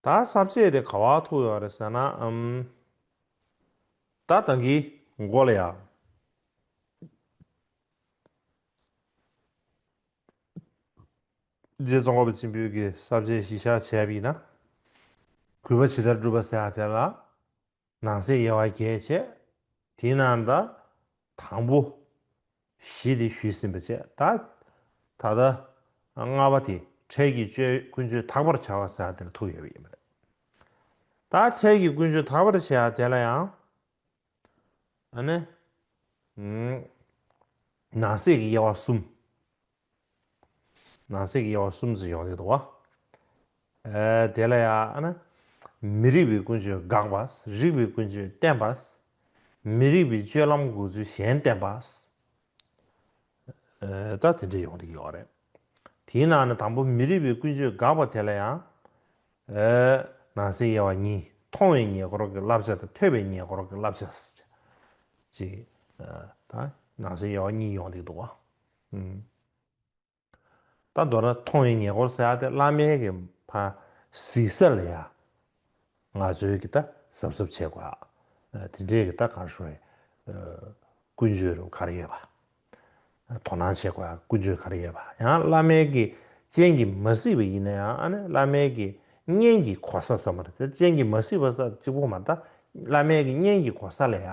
ད་གསར་བཅད་དེ་ག་བ་ཐུག་ཡོད་རེད་ཟེར་ན་ཨམ། ད་ད་གིས་མགོ་ལ་ཡ། རྗེ་ཙོང་ཁ་པ་ཆེན་པོའི་གསར་བཅད་གཞི་བཞག་བྱས་པ་ཡིན་ན། གུས་པ་ཇི་ལྟར་བསྒྲུབ་པ་ཟེར་ཡང་དེ་ལ། ནང་གསེས་དབྱེ་བ་བརྒྱད་བྱས། དེའི་ནང་ད། དང་པོ། བཞི་དེ་ཞུས་ཟིན་པ་བཅས་ད། ད་ལྟ། ལྔ་བ་དེ་འཕྲལ་གྱི་སྤྱོད་ཡུལ་ཀུན་སྤྱོད་དག་པར་བྱ་བ་ཟེར་བ་དེར་ཐུག་ཡོད་པ་ཡིན་པ་རེད། ད་འཕྲལ་གྱི་ཀུན་སྤྱོད་དག་པར་བྱ་བ་དེ་ལ་ཡང། ཨ་ནི། ནང་གསེས་ཀྱི་དབྱེ་བ་གསུམ། ནང་གསེས་ཀྱི་དབྱེ་བ་གསུམ་ཙམ་ཡོང་ཡོད་དོ། དེ་ལ་ཡང། མི་རིགས་པའི་ཀུན་སྤྱོད་དགག་པ། རིགས་པའི་ཀུན་སྤྱོད་བསྟན་པ། མི་རིགས་པའི་སྤྱོད་ལམ་དགོས་ཚུལ་གཞན་བསྟན་པ། ད་དེ་འདྲ་ཡོང་གི་ཡོད་རེད། དེའི་ནང་ནས་དང་པོ་མི་རིགས་པའི་ཀུན་སྤྱོད་དགག་པ་དེ་ལ་ཡང། ནང་གསེས་དབྱེ་བ་གཉིས་མཐོང་བའི་ཉེ་འཁོར་གྱི་བསླབ་བྱ་དང་ཐོས་པའི་ཉེ་འཁོར་གྱི་བསླབ་བྱ། ཅེས་ནང་གསེས་དབྱེ་བ་གཉིས་ཡོང་གི་འདུག། པ་མདོར་ན་མཐོང་བའི་ཉེ་འཁོར་སེར་ཨ་ཏི་བླ་མའི་གི་ཕ་གཟིགས་ས་ལ་ཡ། ང་ཚོའི་གི་ད་གཟབ་གཟབ་བྱེད་དགོས་ཨ། དེ་འདྲའི་གི་ད་གར་བྱུང་བའི། ཀུན་སྤྱོད་རུ་གར་ཡོད་པ། དོ་སྣང་བྱེད་དགོས་ཨ་ཀུན་སྤྱོད་གར་ཡོད་པ་ཡང་བླ་མའི་གི་སྤྱན་གི་མ་གཟིགས་པ་ཡིན་ན་ཡང་ཨ་ནི་བླ་མའི་གི་བརྙན་གི་གོ་ས་ས་མ་རེད་དེ་སྤྱན་གི་མ་གཟིགས་པ་ས་གཅིག་པོ་མ་ད་བླ་མའི་གི་བརྙན་གི་གོ་ས་ལ་ཡ།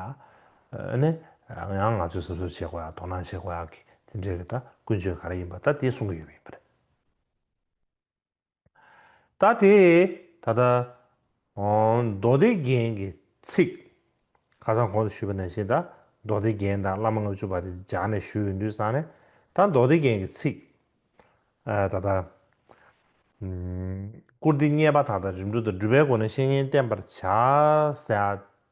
ཨ་ནི། ཡང་ང་ཚོས་སེམས་གསོ་བྱེད་དགོས་ཡ་དོ་སྣང་བྱེད་དགོས་ཡ་གི་དེ་འདྲའི་གི་ད་ཀུན་སྤྱོད་ག་རེ་ཡིན་པ་ད་དེ་གསུང་གི་ཡོད་པ་ཡིན་པ་རེད། ད་དེ་ད་ལྟ། མདོ་སྡེ་རྒྱན་གྱི་ཚིག། ཁ་སང་གོང་དུ་ཞུས་པ་ནང་བཞིན་ད་མདོ་སྡེ་རྒྱན་དང་བླ་མ་ལྔ་བཅུ་བ་དེ་སྦྱར་ནས་ཞུས་ཡོད་འདུག་སང་ནས་ད་མདོ་སྡེ་རྒྱན་གྱི་ཚིག། ད་ལྟ། བཀུར་སྟི་བརྙས་པ་དག་དང་རིམ་གྲོ་དང་སྒྲུབ་པའི་སྒོ་ནས་བཤེས་གཉེན་བསྟེན་པར་བྱ།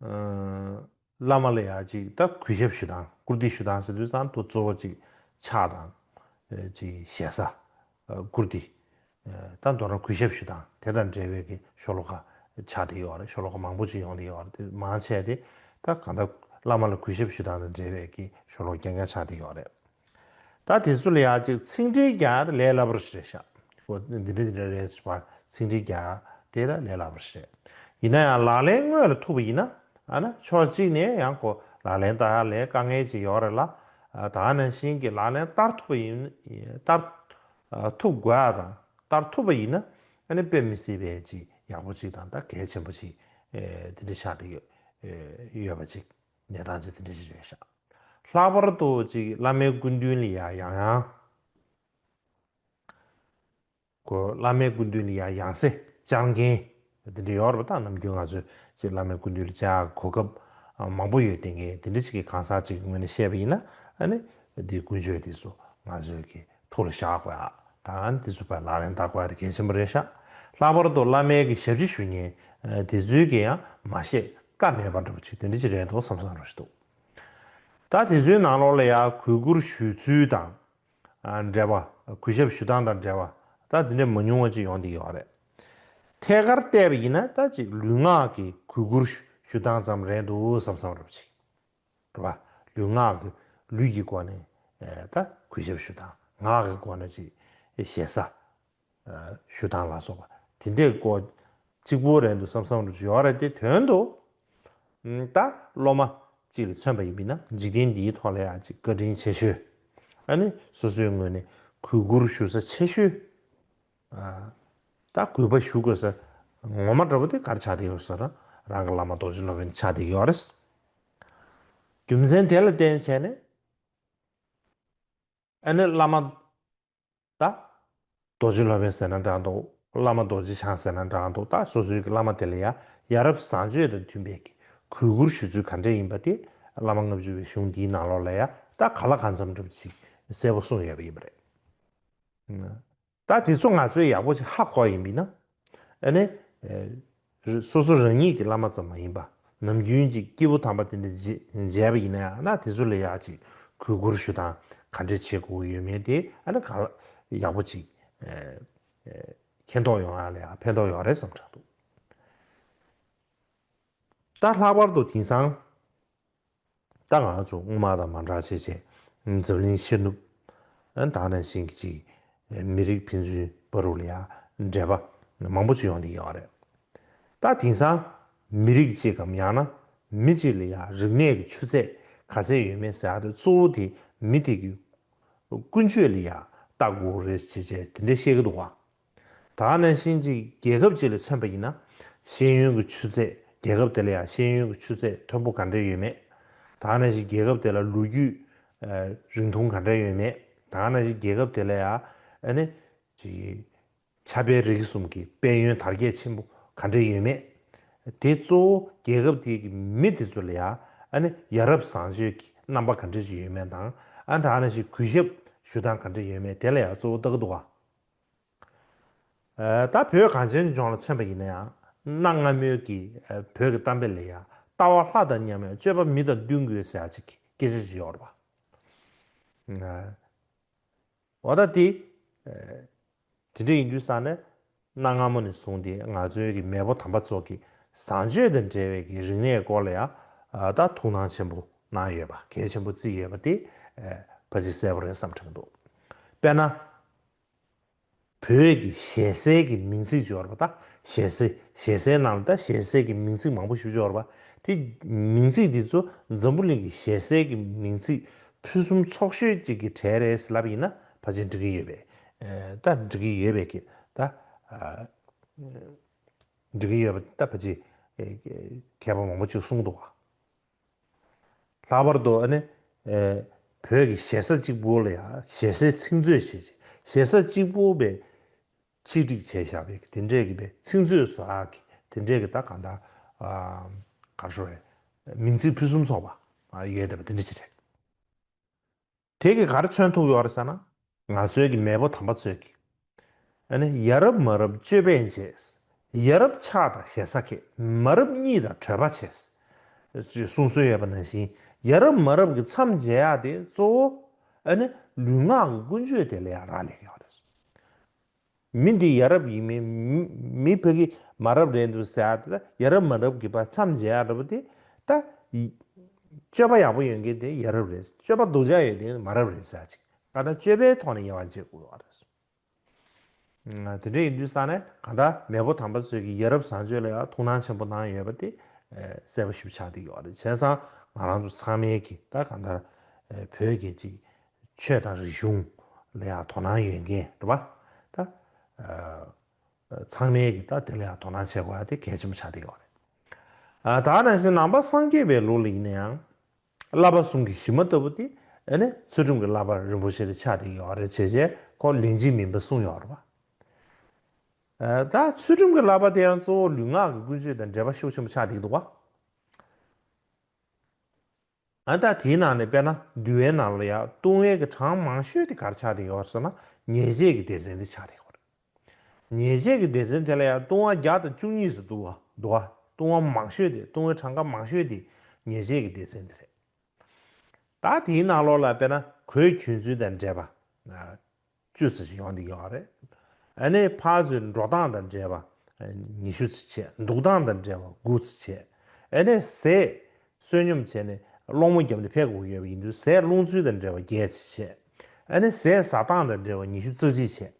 བླ་མ་ལ་ཡང་ཅིག་ད་གུས་ཞབས་ཞུ་དང་བཀུར་བསྟི་ཞུ་དང་ཟེར་དུས་ཙང་དུ་གཙོ་བོ་ཅིག་ཕྱག་དང། ཅིག་ཞལ་ས། བཀུར་བསྟི། ད་མདོར་ན་གུས་ཞབས་ཞུ་དང་དེ་དང་འབྲེལ་བའི་གི་ཤོ་ལོ་ཀ་ཕྱག་དེ་ཡོད་རེད་ཤོ་ལོ་ཀ་མང་པོ་ཅིག་ཡོང་དེ་ཡོད་རེད་དེ་མང་ཆེ་དེ་ད་གང་ད་བླ་མ་ལ་གུས་ཞབས་ཞུ་དང་དང་འབྲེལ་བའི་གི་ཤོ་ལོ་ཀ་རྒྱ་རྒྱ་ཕྱག་དེ་ཡོད་རེད། ད་དེ་ཚོ་ལ་ཡག་ཅིག་ཚིག་འགྲེལ་རྒྱག་ད་ལས་སླ་པོ་རེད་ཤག་ཨོ་འདི་འདྲ་འདི་འདྲ་རེད་ཟེར་བ་ཚིག་འགྲེལ་རྒྱག་དེ་ད་ལས་སླ་པོ་རེད་ཡིན་ན་ཡང་ལག་ལེན་དངོས་ལ་ཐུག་པ་ཡིན་ན་ན་ཕྱོགས་གཅིག་ནས་ཡང་གོ་ལག་ལེན་ད་ལས་དཀའ་ངལ་ཅིག་ཡོག་རེད་ལ་ད་ནང་བཞིན་གྱི་ལག་ལེན་བསྟར་ཐུབ་པ་ཡིན་བསྟར་ཐུབ་དགོས་ཨ་དང་བསྟར་ཐུབ་པ་ཡིན་ན་དཔེ་མི་སྲིད་པའི་ཅིག་ཡག་པོ་ཅིག་དང་ད་གལ་ཆེན་པོ་ཅིག་འདི་འདྲ་ཆགས་འདྲ་ཡོད་པ་ཅིག་ནས་དང་ཅི་དེ་འདྲས་ཅི་རེད་ཤག། ལྷག་པར་དུ་ཅིག་བླ་མའི་སྐུ་མདུན་ལི་ཡང་ཡང་ཡང། གོ། བླ་མའི་སྐུ་མདུན་ལི་ཡང་ཡང་སེ་བཅར་མཁན་དེ་འདྲས་ཡོད་རེད་པ་ད་ནམ་རྒྱུན་ང་ཚོས་ཅིག་བླ་མའི་སྐུ་མདུན་ལི་བཅར་གོ་སྐབས་མང་པོ་ཡོད་དེ་ངས་དེ་འདྲས་ཅིག་གི་གང་ཟག་ཅིག་ངོས་ནས་བཤད་པ་ཡིན་ན་ནི་དེ་ཀུན་སྤྱོད་དེ་སུ་ང་ཚོས་ཀྱི་ཐུགས་ལ་བཞག་པ་དང་དེ་ཚུལ་བར་ལག་ལེན་བསྟར་བར་དགེ་ཆེན་པོ་རེ་ཤག་ལྷག་པར་དུ་བླ་མའི་གི་ཞབས་ཕྱི་ཞུ་ཉེན་དེ་ཚུལ་གྱི་ཡང་མ་བཤད་ཀ་མེད་པར་འགྲོ་བ་ཆེ་དེ་འདྲ་ཅིག་རེད་འདུག་བསམ་བསམ་རོ་ཞིག་འདུག་ད་དེ་ཚུལ་ནང་ལོགས་ལ་ཡང་གུས་བཀུར་ཞུས་ཚུལ་དང་འབྲེལ་བ་གུས་ཞབས་ཞུ་སྟངས་དང་འབྲེལ་བ་ད་དེ་འདྲ་མ་ཉུང་བ་ཅིག་ཡོང་དེ་ཡོད་རེད་ཐད་ཀར་བལྟས་པ་ཡིན་ན་ད་ཅིག་ལུས་ངག་གི་གུས་བཀུར་ཞུ་སྟངས་ཙམ་རེད་འདུག་བསམ་བསམ་རོ་ཅིག། བ། ལུས་ངག་གི། ལུས་ཀྱི་སྒོ་ནས། ད། གུས་ཞབས་ཞུ་དང། ངག་གི་སྒོ་ནས་ཅིག། ཞེ་ས། ཞུ་དང་ལ་སོགས་པ། དེ་འདྲའི་སྒོ། གཅིག་པུའི་རན་དུ་བསམ་བསམ་རུ་བརྗོད་ར་སྟེ་དོན་དུ། ད། སློབ་མ། ཅིག་ལ་མཚོན་པ་ཡིན་མིན་ན་འཇིག་རྟེན་འདིའི་ཐོག་ལ་ཡང་ཅིག་བཀའ་དྲིན་ཆེ་ཞུ། ཨ་ནི། སོ་སོའི་ངོས་ནས་གུས་བཀུར་ཞུ་ས་ཆེ་ཞུ། ད་གུས་པ་ཞུ་དགོས་ཟེར། ངོ་མ་འདྲ་པོ་དེ་གར་ཆགས་བསྡད་ཡོད་ཟེར། རང་གི་བླ་མ་རྡོ་རྗེ་སློབ་དཔོན་ཆགས་བསྡད་ཡོད་རེད། རྒྱུ་མཚན་དེ་ལ་བརྟེན་བྱས་ནས། ཨ་ནི་བླ་མ། ད། རྡོ་རྗེ་སློབ་དཔོན་ཟེར་ན་འདྲ་འདུག་བླ་མ་རྡོ་རྗེ་འཆང་ཟེར་ན་འདྲ་འདུག་ད་སོ་སོའི་གི་བླ་མ་དེ་ལ་ཡ་ཡ་རབས་བཟང་སྤྱོད་དང་མཐུན་པའི་གི་གུས་བཀུར་ཞུ་ཚུལ་ག་འདྲས་ཡིན་པ་དེ་བླ་མ་ལྔ་བཅུ་བའི་གཞུང་འདིའི་ནང་ལོགས་ལ་ཡ་ད་ག་ལ་ག་འཚམས་འདྲ་པོ་ཅིག་གསལ་པོ་གསུངས་ཡོད་པ་ཡིན་པ་རེད། ད་དེ་ཚོ་ང་ཚོའི་ཡག་པོ་ཞིག་ཧ་གོ་ཡིན་མིན་ན། ཨ་ནི། སོ་སོ་རང་ཉིད་ཀྱི་བླ་མ་ཙམ་མ་ཡིན་པ་ནམ་རྒྱུན་གྱི་སྐྱེས་བུ་དམ་པ་དེ་འདྲ་མཇལ་བ་ཡིན་ན་ཡང་ན་དེ་ཚོ་ལ་ཡག་ཅིག་གུས་བཀུར་ཞུ་དང་ག་འདྲས་བྱེད་དགོས་ཀྱི་ཡོད་མེད་དེ་ཨ་ནི་གང་ཡག་པོ་ཅིག་མཁྱེན་རྟོགས་ཡོང་ཡག་ལ་ཡག་ཕན་ཐོགས་ཡོང་རེ་བསམ་དྲག་འདུག་ད་ལྷག་པར་དུ་དེང་སང། ད་ང་ཚོ་སྔོན་མ་དང་མ་འདྲ་བྱས་བྱས། འཛམ་གླིང་ཕྱི་ནུབ། དང་ནས་ཞིང་གི་ཅིག། མི་རིགས་ཕན་ཚུན་བར་རུ་ལ་ཡ། འདྲེས་པ། མང་པོ་ཅིག་ཡོང་དེ་ཡོང་བ་རེད། ད་དེང་སང། མི་རིགས་གཅིག་གམ་ཡང་ན། མི་གཅིག་ལ་ཡ་རིག་གནས་ཀྱི་ཆུ་ཚད་ག་ཚད་ཡོད་མེད་ཟེར་དེ་གཙོ་བོ་དེ་མི་དེ་གི། ཀུན་སྤྱོད་ལ་ཡ། ལྟ་སྒོ་རེད་ཅེས་བྱས་དེ་འདྲས་བཤད་གི་འདུག་བ། ད་ནས་གཞིན་གྱི་རྒྱལ་ཁབ་ཅིག་ལ་མཚོན་པ་ཡིན་ན། ཤེས་ཡོན་གྱི་ཆུ་ཚད་རྒྱལ་ཁབ་དེ་ལ་ཡང་ཤེས་ཡོན་གྱི་ཆུ་ཚད་མཐོན་པོ་ག་འདྲས་ཡོད་མེད། ད་ནས་གཞིན་རྒྱལ་ཁབ་དེ་ལ་ལོ་རྒྱུས་རིང་ཐུང་ག་འདྲས་ཡོད་མེད། ད་ནས་གཞིན་རྒྱལ་ཁབ་དེ་ལ་ཡང་ཆབ་དཔལ་རིག་གསུམ་གྱི་དཔལ་ཡོན་དར་རྒྱས་ཆེན་པོ་ག་འདྲས་ཡོད་མེད། དེ་གཙོ་བོ་རྒྱལ་ཁབ་དེ་གི་མི་དེ་ཚོ་ལ་ཡང་ཡ་རབས་བཟང་སྤྱོད་ཀྱི་རྣམ་པ་ག་འདྲས་ཅིག་ཡོད་མེད་དང། ད་ནས་གཞིན་གུས་ཞབས་ཞུ་སྟངས་ག་འདྲས་ཡོད་མེད་དེ་ལ་ཡང་གཙོ་བོ་བལྟ་གི་འདུག་ག། ད་བོད་གངས་ཅན་གྱི་ལྗོངས་ལ་མཚོན་པ་ཡིན་ན་ཡང་གནའ་སྔ་མོའི་གི་བོད་ཀྱི་གཏམ་དཔེ་ལས་ཡང་ལྟ་བ་ལྷ་དང་མཉམ་ཡང་སྤྱོད་པ་མི་དང་བསྟུན་དགོས་ཟེར་ཡ་གཅིག་གི་སྐད་ཆ་ཞིག་ཡོད་རེད་པ། འོ་ད་དེ་དེ་འདྲ་ཡིན་དུས་ས་ནས་གནའ་སྔ་མོ་ནས་བཟུང་སྟེ་ང་ཚོའི་གི་མེས་པོ་དམ་པ་ཚོ་གི་བཟང་སྤྱོད་དང་འབྲེལ་བའི་གི་རིག་གནས་སྐོར་ལ་ཡང་ད་ཐུགས་སྣང་ཆེན་པོ་གནང་ཡོད་པ་གལ་ཆེན་པོ་བརྩིས་ཡོད་པ་དེ་ཕ་ཅི་གསལ་པོ་རེད་བསམ་དྲན་འདུག་དཔེར་ན། བོད་ཀྱི་ཞལ་ཟས་ཀྱི་མིང་ཚིག་སྦྱོར་བ་དང་ཞལ་ཟས་ཞལ་ཟས་ནང་ལ་དང་ཞལ་ཟས་ཀྱི་མིང་ཚིག་མང་པོ་ཞིག་སྦྱོར་བ། དེ་མིང་ཚིག་དེ་ཚོ་འཛམ་བུ་གླིང་གི་ཞལ་ཟས་ཀྱི་མིང་ཚིག་ཕུན་སུམ་ཚོགས་ཤོས་གཅིག་གི་གྲས་རེད་ཟེར་ལབ་ཡིན་ན་ཕར་ཕྱིན་འགྲིག་གི་ཡོད་པས་ད་འགྲིག་གི་ཡོད་པས་ཀྱི་ད་འགྲིག་གི་ཡོད་པས་ད་ཕར་ཕྱིན། མཁས་པ་མང་པོ་ཅིག་གསུངས་འདུག་བ། ལྷག་པར་དུ་བོད་ཀྱི་ཞེ་ས་གཅིག་པུའུ་ལ་ཡང་ཞེ་སའི་ཚིག་མཛོད་ཞེས་བྱ། ཞེ་ས་གཅིག་པུའུ་པའི་ཆིག་སྒྲིག་བྱས་བཞག་པའི་དེ་འདྲའི་གི་པའི་ཚིག་མཛོད་སོགས་ཨང་གི་དེ་འདྲའི་གི་ད་གང་དག་གར་ཤོར་བའི་མིང་ཚིག་ཕུན་སུམ་ཚོགས་པ་ཡོད་བསྡད་པ་དེ་འདྲ་ཅིག་རེད། དེ་གི་གར་མཚོན་ཐུག་ཡོར་ས་ན། ང་ཚོའི་གི་མེས་པོ་དམ་པ་ཚོས་གི། ཨ་ནི་ཡ་རབས་མ་རབས་སྤྱོད་པས་མཇེས། ཡ་རབས་ཕྱག་དང་ཞེ་ས་ཁེ། མ་རབས་གཉིད་དང་བྲོས་པ་བྱས། ཅེས་གསུང་སྲོལ་ཡོད་པ་ནང་བཞིན་ཡ་རབས་མ་རབས་གི་མཚམས་མཇལ་ཡག་དེ་གཙོ་བོ། ཨ་ནི་ལུས་ངག་ཀུན་སྤྱོད་དེ་ལ་ཡང་རག་ལས་ཀི་ཡོ་རེད། མི་འདི་ཡ་རབས་ཡིན་མིན་མི་ཕ་གི་མ་རབས་རེད་འདུག་ཟེར་ཡ་ཡ་རབས་མ་རབས་ཀྱི་བར་མཚམས་འཇལ་ཡ་རབས་དེ་ད་སྤྱོད་པ་ཡག་པོ་ཡོད་མཁན་དེ་ཡ་རབས་རེད་སྤྱོད་པ་སྡུག་ཅག་ཡོད་དེ་མ་རབས་རེད་ཟེར་ཅིག་ད་ནི་སྤྱོད་པའི་ཐོག་ནས་དབྱེ་བ་འབྱེད་དགོས་བ་རེད། དེ་འདྲ་ཡིན་དུས་ས་ནས་གང་འདྲ་མེས་པོ་དམ་པ་ཚོས་ཀྱི་ཡ་རབས་བཟང་སྤྱོད་ལ་ཡང་ཐུགས་སྣང་ཆེན་པོ་གནང་ཡོད་པ་དེ་གསལ་པོ་ཞིབ་ཆགས་དེ་ཡོད་རེད་བྱས་ཙང་ང་རང་ཚོ་ཚང་མས་ཀྱི་ད་གང་ལྟར་བོད་ཀྱི་ཅིག་ཆོས་དང་རིག་གཞུང་ལ་ཡང་དོ་སྣང་ཡོད་མཁན་རེད་པ། ད། ཚང་མས་ཀྱིས་ད་དེ་ལ་ཡང་དོ་སྣང་བྱེད་དགོས་པ་དེ་གལ་ཆེན་པོ་ཆགས་བསྡད་ཡོད་རེད། ད་ནང་བཞིན་ནང་པ་སངས་རྒྱས་པའི་ལུགས་ལ་ཡིན་ན་ཡང། བསླབ་པ་ཟུང་གི་གཞི་མ་ལྟ་བུ་དེ་ནི་ཚུལ་ཁྲིམས་ཀྱི་བསླབ་པ་རིན་པོ་ཆེ་རེད་ཆགས་བསྡད་ཡོད་རེད་བྱས་བྱས་ཁོ་ལན་གཅིག་མིན་པ་གསུངས་ཡོད་རེད་པ། ད་ཚུལ་ཁྲིམས་ཀྱི་བསླབ་པ་དེ་ཡང་གཙོ་བོ་ལུས་ངག་གི་ཀུན་སྤྱོད་དང་འབྲེལ་པ་ཤུགས་ཆེན་པོ་ཆགས་བསྡད་འདུག་བ། ཨ་ད་དེའི་ནང་ནས་དཔེར་ན་འདུལ་བའི་ནང་ལ་ཡང་ལྟུང་བའི་གི་གྲངས་མང་ཤོས་དེ་གར་ཆགས་དེ་ཡོད་ཟེར་ན་ཉེས་བྱས་ཀྱི་སྡེ་ཚན་དེ་ཆགས་དེ་ཡོད་རེད། ཉེས་བྱས་ཀྱི་སྡེ་ཚན་དེ་ལ་ཡང་ལྟུང་བ་བརྒྱ་དང་བཅུ་གཉིས་སུ་འདུ་བ་ལྟུང་བ་མང་ཤོས་དེ་ལྟུང་བའི་གྲངས་ཀ་མང་ཤོས་དེ་ཉེས་བྱས་ཀྱི་སྡེ་ཚན་དེ་རེད། ད་དེའི་ནང་ལོགས་ལ་དཔེར་ན་གོས་གྱོན་ཚུལ་དང་འབྲེལ་པ། བཅུ་ཙི་ཞིག་ཡོང་འདི་ཡོང་རེད། ཨ་ནེ་ཕ་ཚོས་འགྲོ་སྟངས་དང་འདྲེས་པ་ཉི་ཤུ་ཙི་བྱས་འདུག་སྟངས་དང་འདྲེས་པ་དགུ་ཙི་བྱས། ཨ་ནེ་ཟས་བསོད་སྙོམས་བྱས་ནས་སློང་མོ་བརྒྱབ་ནས་ཕེབས་དགོས་ཡོད་པ་ཡིན་དུས་ཟས་སློང་ཚུལ་དང་འདྲེས་པ་བརྒྱད་ཙི་བྱས། ཨ་ནེ་ཟས་ཟ་སྟངས་དང་འདྲེས་པ་ཉི་ཤུ་ཙི་གཅིག་བྱས།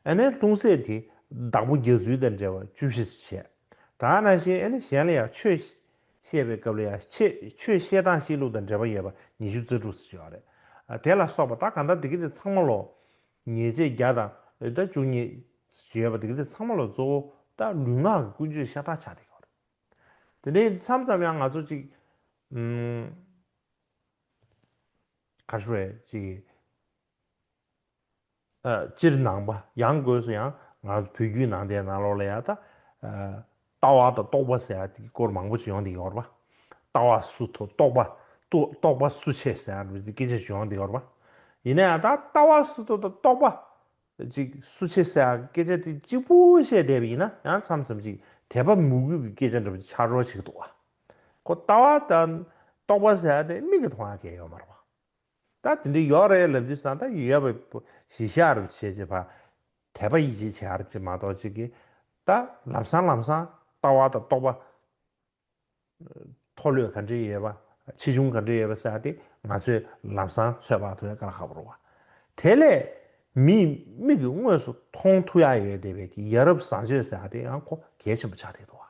ཨ་ནེ་ལྷུང་བཟེད་དེ་བདག་པོ་རྒྱག་ཚུལ་དང་འདྲེས་པ་བཅུ་བཞི་ཙི་བྱས། ད་ནང་བཞིན་ཨ་ནེ་གཞན་ལ་ཡང་ཆོས་བཤད་པའི་སྐབས་ལ་ཡང་ཆེས་ཆོས་བཤད་སྟངས་བཤད་ལུགས་དང་འབྲེལ་པ་ཡོད་པ་ཉི་ཤུ་རྩ་དྲུག་ཟེར་བྱུང་བ་རེད། དེ་ལ་སོགས་པ་ད་གང་ལྟར་དེ་གི་དེ་ཚང་མ་ལོ། ཉེས་བྱས་བརྒྱ་དང་ཨོད་དར་བཅུ་གཉིས། ཞེས་པ་དེ་གི་དེ་ཚང་མ་ལོ་གཙོ་བོ་ད་ལུས་ངག་གི་ཀུན་སྤྱོད་ཤ་སྟག་ཆགས་བསྡད་ཡོད་རེད། དེ་འདྲའི་མཚམས་ཙམ་ཡང་ང་ཚོ་ཅིག། གར་བཞུ་བའི་ཅིག། སྤྱིར་ནང་པ་ཡང་དགོས་སུ་ཡང་ང་ཚོ་བོད་རྒྱུད་ནང་བསྟན་ནང་ལོག་ལ་ཡག་ད། ལྟ་བ་དང་རྟོག་པ་ཟེར་ཡག་དེ་སྐོར་མང་པོ་ཅིག་ཡོང་འདི་གོར་པ། ལྟ་བ་སུ་ཐོ་རྟོག་པ་ཏུ་རྟོག་པ་སུ་ཆེ་ཟེར་ཡག་སྐད་ཆ་ཅིག་ཡོང་འདི་གོར་པ། ཡིན་ན་ཡང་ད་ལྟ་བ་སུ་ཐོ་དང་རྟོག་པ་ཅིག་སུ་ཆེ་ཟེར་ཡག་སྐད་ཆ་དེ་གཅིག་པུ་བཤད་བསྡད་པ་ཡིན་ན་ཡང་མཚམས་མཚམས་ཅིག་དད་པ་མུ་གུས་ཀྱི་སྐད་ཆ་འདྲ་པོ་ཅིག་ཆགས་རོགས་ཅིག་འདུག་བ། ཁོ་ལྟ་བ་དང་རྟོག་པ་ཟེར་ཡག་དེ་མིག་གི་མཐོང་ཡག་གལ་ཡོད་མ་རེད་བ། ད་དེ་འདྲའི་ཡོག་རེད་ལབ་དུས་སང་ད་ཡོད་པའི་གཞི་བཞག་རུ་བྱེད་ཅེས་པ། དད་པ་ཡིད་ཆེས་བྱེད་ཨར་ཅེས་མ་གཏོགས་གཅིག་གིས་ད་ལམ་སང་ལམ་སང་ལྟ་བ་དང་རྟོགས་པ། མཐོ་ལོས་ག་འདྲས་ཡོད་པ་ཆེ་ཆུང་ག་འདྲས་ཡོད་པ་བསལ་ཏེ་ང་ཚོས་ལམ་སང་ཚོད་དཔག་ཐུབ་ཡ་ག་ལ་ཧ་པོ་རུང་བ། དེ་ལས་མིས་མིག་གིས་དངོས་སུ་མཐོང་ཐུབ་ཡ་ཡོད་དེ་བས་ཀྱི་ཡ་རབས་བཟང་སྤྱོད་བསལ་ཏེ་ཡང་གོ་གལ་ཆེན་པོ་ཆགས་བསྡད་འདུག་བ།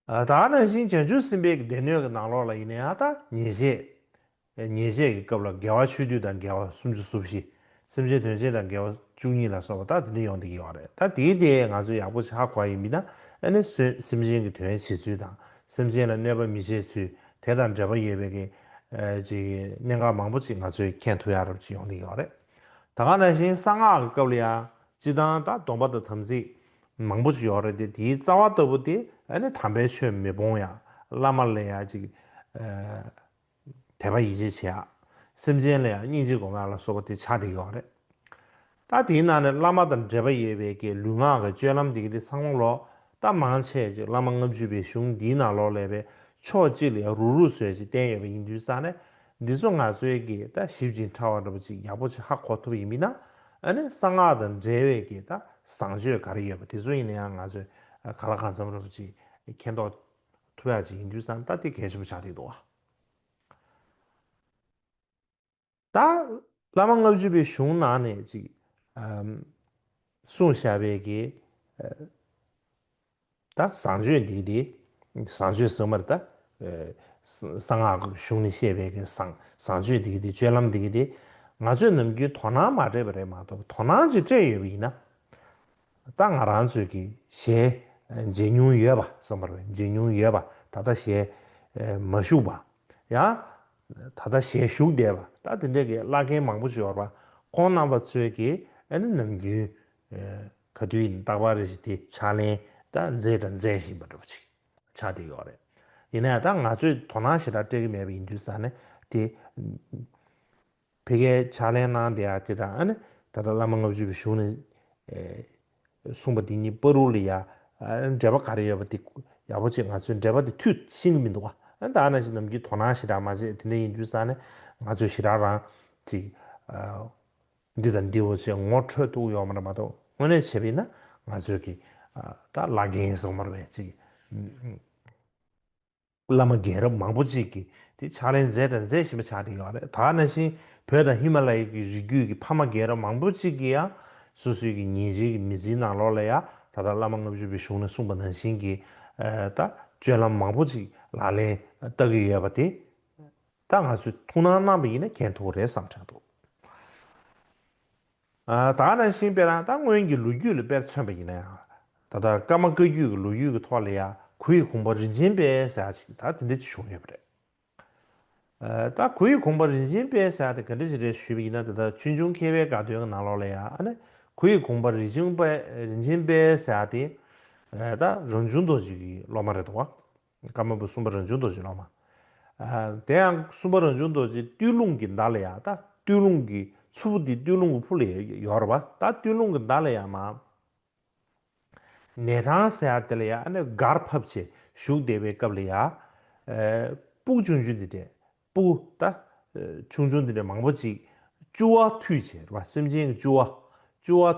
ད་ནང་བཞིན་བྱང་ཆུབ་སེམས་དཔའི་སྡེ་སྣོད་ཀྱི་ནང་ལོགས་ལ་ཡེ་ནས་ཨ་ཏཱ་ཉེས་བྱས། ཉེས་བྱས་ཀྱི་སྐབས་ལ་དགེ་བ་ཆོས་བསྡུས་དང་དགེ་བ་སུམ་ཅུ་སོ་བཞི། སེམས་ཅན་དོན་བྱེད་དང་དགེ་བ་བཅུ་གཉིས་ལ་སོགས་པ་དག་དེ་འདྲ་ཡོང་དུ་ཡི་བ་རེད་ད་དེའི་དེ་ང་ཚོས་ཡག་པོ་བྱ་དགོས་ཡི་མིན་ན་ཨེ་ནི་སོས་སེམས་ཅན་གྱི་དོན་བྱེད་ཚུལ་དང་སེམས་ཅན་ལ་གནོད་པ་མི་བྱེད་ཚུལ་དེ་དང་འབྲེལ་པ་ཡོད་པའི་གི་ཅིག་གི་གནད་འགག་མང་པོ་ཅིག་ང་ཚོས་མཁྱེན་ཐུབ་ཡག་རབ་ཅིག་ཡོང་དུ་ཡི་བ་རེད་ད་ག་ནང་བཞིན་གསང་སྔགས་ཀྱི་སྐབས་ལ་ཡང་སྤྱི་དང་དང་སྡོམ་པ་དང་དམ་ཚིག་མང་པོ་ཞིག་ཡོད་རེད་དེ་དེའི་རྩ་བ་ལྟ་བུ་དེ་ཨ་ནི་དམ་པའི་ཆོས་མི་སྤོང་ཡང་བླ་མ་ལ་ཡང་ཅིག་དད་པ་ཡིད་ཆེས་བྱེད་ཡ། སེམས་ཅན་ལ་ཡང་སྙིང་རྗེ་དགོས་ང་ལ་སོགས་པ་དེ་ཆ་དེ་ཡོད་རེད། ད་དེའི་ནང་ནས་བླ་མ་དང་འབྲེལ་པ་ཡོད་པའི་གི་ལུས་ངག་གི་སྤྱོད་ལམ་དེ་གི་དེ་སང་ལོ་ལོ་ད་མང་ཆེ་ཅིག་བླ་མ་ལྔ་བཅུ་པའི་གཞུང་འདིའི་ནང་ལོག་ལས་པའི་ཕྱོགས་གཅིག་ལ་ཡང་རུག་རུག་བཟོས་ཅིག་བསྟན་ཡོད་པ་ཡིན་དུས་ས་ནས་འདི་ཚོ་ང་ཚོའི་གི་ད་ཞིབ་ཅིང་ཕྲ་བ་འདྲ་པོ་ཅིག་ཡག་པོ་ཅིག་ཧ་གོ་ཐུབ་ཡིན་མིན་ན་ཨ་ནི་གསང་སྔགས་དང་འབྲེལ་བའི་གི་ད་བཟང་སྤྱོད་ག་རེ་ཡོད་པ་དེ་ཚོ་ཡིན་ན་ཡང་ང་ཚོས་ག་ལ་གང་འཚམ་ར་པོ་ཅིག་མཁྱེན་རྟོགས་ཐུབ་ཡག་ཅིག་ཡིན་དུས་སང་ད་དེ་གལ་ཆེན་པོ་ཆགས་རེད་འདུག་ད་བླ་མ་ལྔ་བཅུ་པའི་གཞུང་ནང་ནས་ཅིག་གསུངས་བཞག་པའི་གི། ད་བཟང་སྤྱོད་འདི་དེ་བཟང་སྤྱོད་ཟེར་མར་ད་གསང་སྔགས་གཞུང་ནས་བཤད་པའི་བཟང་བཟང་སྤྱོད་འདི་དེ་སྤྱོད་ལམ་འདི་དེ་ང་ཚོས་ནམ་རྒྱུན་དོ་སྣང་མ་སྤྲད་པ་རེད་མ་གཏོགས་དོ་སྣང་ཅིག་སྤྲད་ཡོད་པ་ཡིན་ན་ད་ང་རང་ཚོས་ཀྱི་ཞལ་མཇལ་མྱོང་ཡོད་པ་བསམ་པར་བས་མཇལ་མྱོང་ཡོད་པ་ད་ལྟ་ཞལ་མ་བཞུགས་པ་ཡང་ད་ལྟ་ཞལ་བཞུགས་བསྡད་པ་ད་དེ་འདྲ་གི་བླ་རྒན་མང་པོ་འབྱོར་པ་ཁོང་རྣམ་པ་ཚོས་ཀྱི་ཨ་ནི་ནམ་རྒྱུན་ག་དུས་ཡིན་རྟག་པར་གཞི་དེ་ཕྱག་ལེན་དང་མཛེས་དང་མཛེས་བཞིན་པ་འགྲུབ་པ་ཅིག་ཆགས་བསྡད་ཡོད་རེད། ཡིན་ན་ཡང་ད་ང་ཚོས་དོ་སྣང་ཞེ་དྲག་སྤྲད་ཀྱི་མེད་པ་ཡིན་དུས་ས་ནི་དེ། ཕི་ཀའི་ཕྱག་ལེན་གནང་བསྡད་ཡ་དེ་དང་ཨ་ནི་ད་ལྟ་བླ་མ་ལྔ་བཅུ་བའི་གཞུང་ནས་གསུངས་པ་དེ་གཉིས་པོ་རུ་ལ་ཡ་འབྲེལ་པ་ག་རེ་ཡོད་པ་དེ་ཡག་པོ་ཅིག་ང་ཚོས་འབྲེལ་པ་དེ་ཐུད་ཤེས་ཀྱི་མི་འདུག་ཨ་ད་ཨ་ན་ཞིག་ནམ་རྒྱུན་དོ་སྣང་ཞེ་དྲག་མ་བྱེད་དེ་འདྲ་ཡིན་དུས་ས་ནི་ང་ཚོས་ཞེ་དྲག་རང་ཅིག། འདི་དང་འདི་འོ་ཅེས་ངོ་འཕྲོད་དུ་ཡོང་བར་མ་གཏོགས་དངོས་གནས་བྱས་པས་ན་ང་ཚོས་ཀྱི་ད་བླ་རྒན་གསང་བར་བས་ཅིག་བླ་མ་རྒན་རབས་མང་པོ་ཅིག་གིས་དེ་ཕྱག་ལེན་མཛད་དང་མཛད་བཞིན་པ་ཆགས་བསྡད་ཡོད་རེད་ད་ན་བཞིན་བོད་དང་ཧི་མ་ལ་ཡའི་གི་རི་རྒྱུད་ཀྱི་ཕ་མ་རྒན་རབས་མང་པོ་ཅིག་གིས་ཡང་སོ་སོའི་གི་ཉིན་རེའི་གི་མི་ཚེའི་ནང་ལོགས་ལ་ཡང་ད་ལྟ་བླ་མ་ལྔ་བཅུ་པའི་གཞུང་ནས་གསུངས་པ་ནང་བཞིན་གྱི་ད་སྤྱོད་ལམ་མང་པོ་ཅིག་ལག་ལེན་བསྟར་གི་ཡོད་པ་དེ། ད་ང་ཚོས་ཐུགས་སྣང་གནང་བ་ཡིན་ན་གྱེན་ཐུག་རེད་བསམ་དྲན་འདུག་ད་རང་བཞིན་དཔེ་རང་ད་སྔོན་གྱི་ལོ་རྒྱུས་ལ་དཔེར་མཚོན་པ་ཡིན་ན་ཡང་ད་ལྟ་ཀརྨ་བཀའ་བརྒྱུད་ཀྱི་ལོ་རྒྱུས་ཀྱི་ཐོག་ལ་ཡང་གུ་ཡི་གུང་པ་རིན་ཆེན་དཔལ་ཟེར་བ་ཞིག་ད་དེ་འདྲ་ཅིག་བྱུང་ཡོད་པ་རེད། ད་གུ་ཡི་གུང་པ་རིན་ཆེན་དཔལ་ཟེར་བ་དེ་ག་འདྲ་ཞིག་རེད་ཞུས་པ་ཡིན་ན་ད་ལྟ་ཆོས་འབྱུང་མཁས་པའི་དགའ་སྟོན་གྱི་ནང་ལོགས་ལ་ཡང་གུ་ཡི་གུང་པ་རིན་ཆེན་དཔལ་ཟེར་བ་དེ་ད་རང་བྱུང་རྡོ་རྗེ་ཀྱི་སློབ་མ་རེད་དོ། བཀའ་མ་བུ་གསུམ་པ་རང་བྱུང་རྡོ་རྗེ་ལོ་མ། དེ་ཡང་གསུམ་པ་རང་བྱུང་རྡོ་རྗེ་སྟོད་ལུང་གི་མདའ་ལ་ཡ་ད་སྟོད་ལུང་གི་ཆུ་བོ་དེ་སྟོད་ལུང་གི་ཕུ་ལ་ཡོར་བ་ད་སྟོད་ལུང་གི་མདའ་ལ་ཡ་མ། ནས་ཐང་ཟེ་ཡ་དེ་ལ་ཡ་ཨ་ནེ་གར་ཕབ་བྱེད་བཞུགས་བདེ་བའི་སྐབས་ལ་ཡ། སྤུག་ཆུང་ཆུང་འདི་འདྲས་སྤུ་ད། ཆུང་ཆུང་འདི་འདྲས་མང་པོ་ཅིག། ཅུ་བ་ཐུད་བྱེད་ར་བ་སེམས་ཅན་གྱི་ཅུ་བ། ཅུ་བ།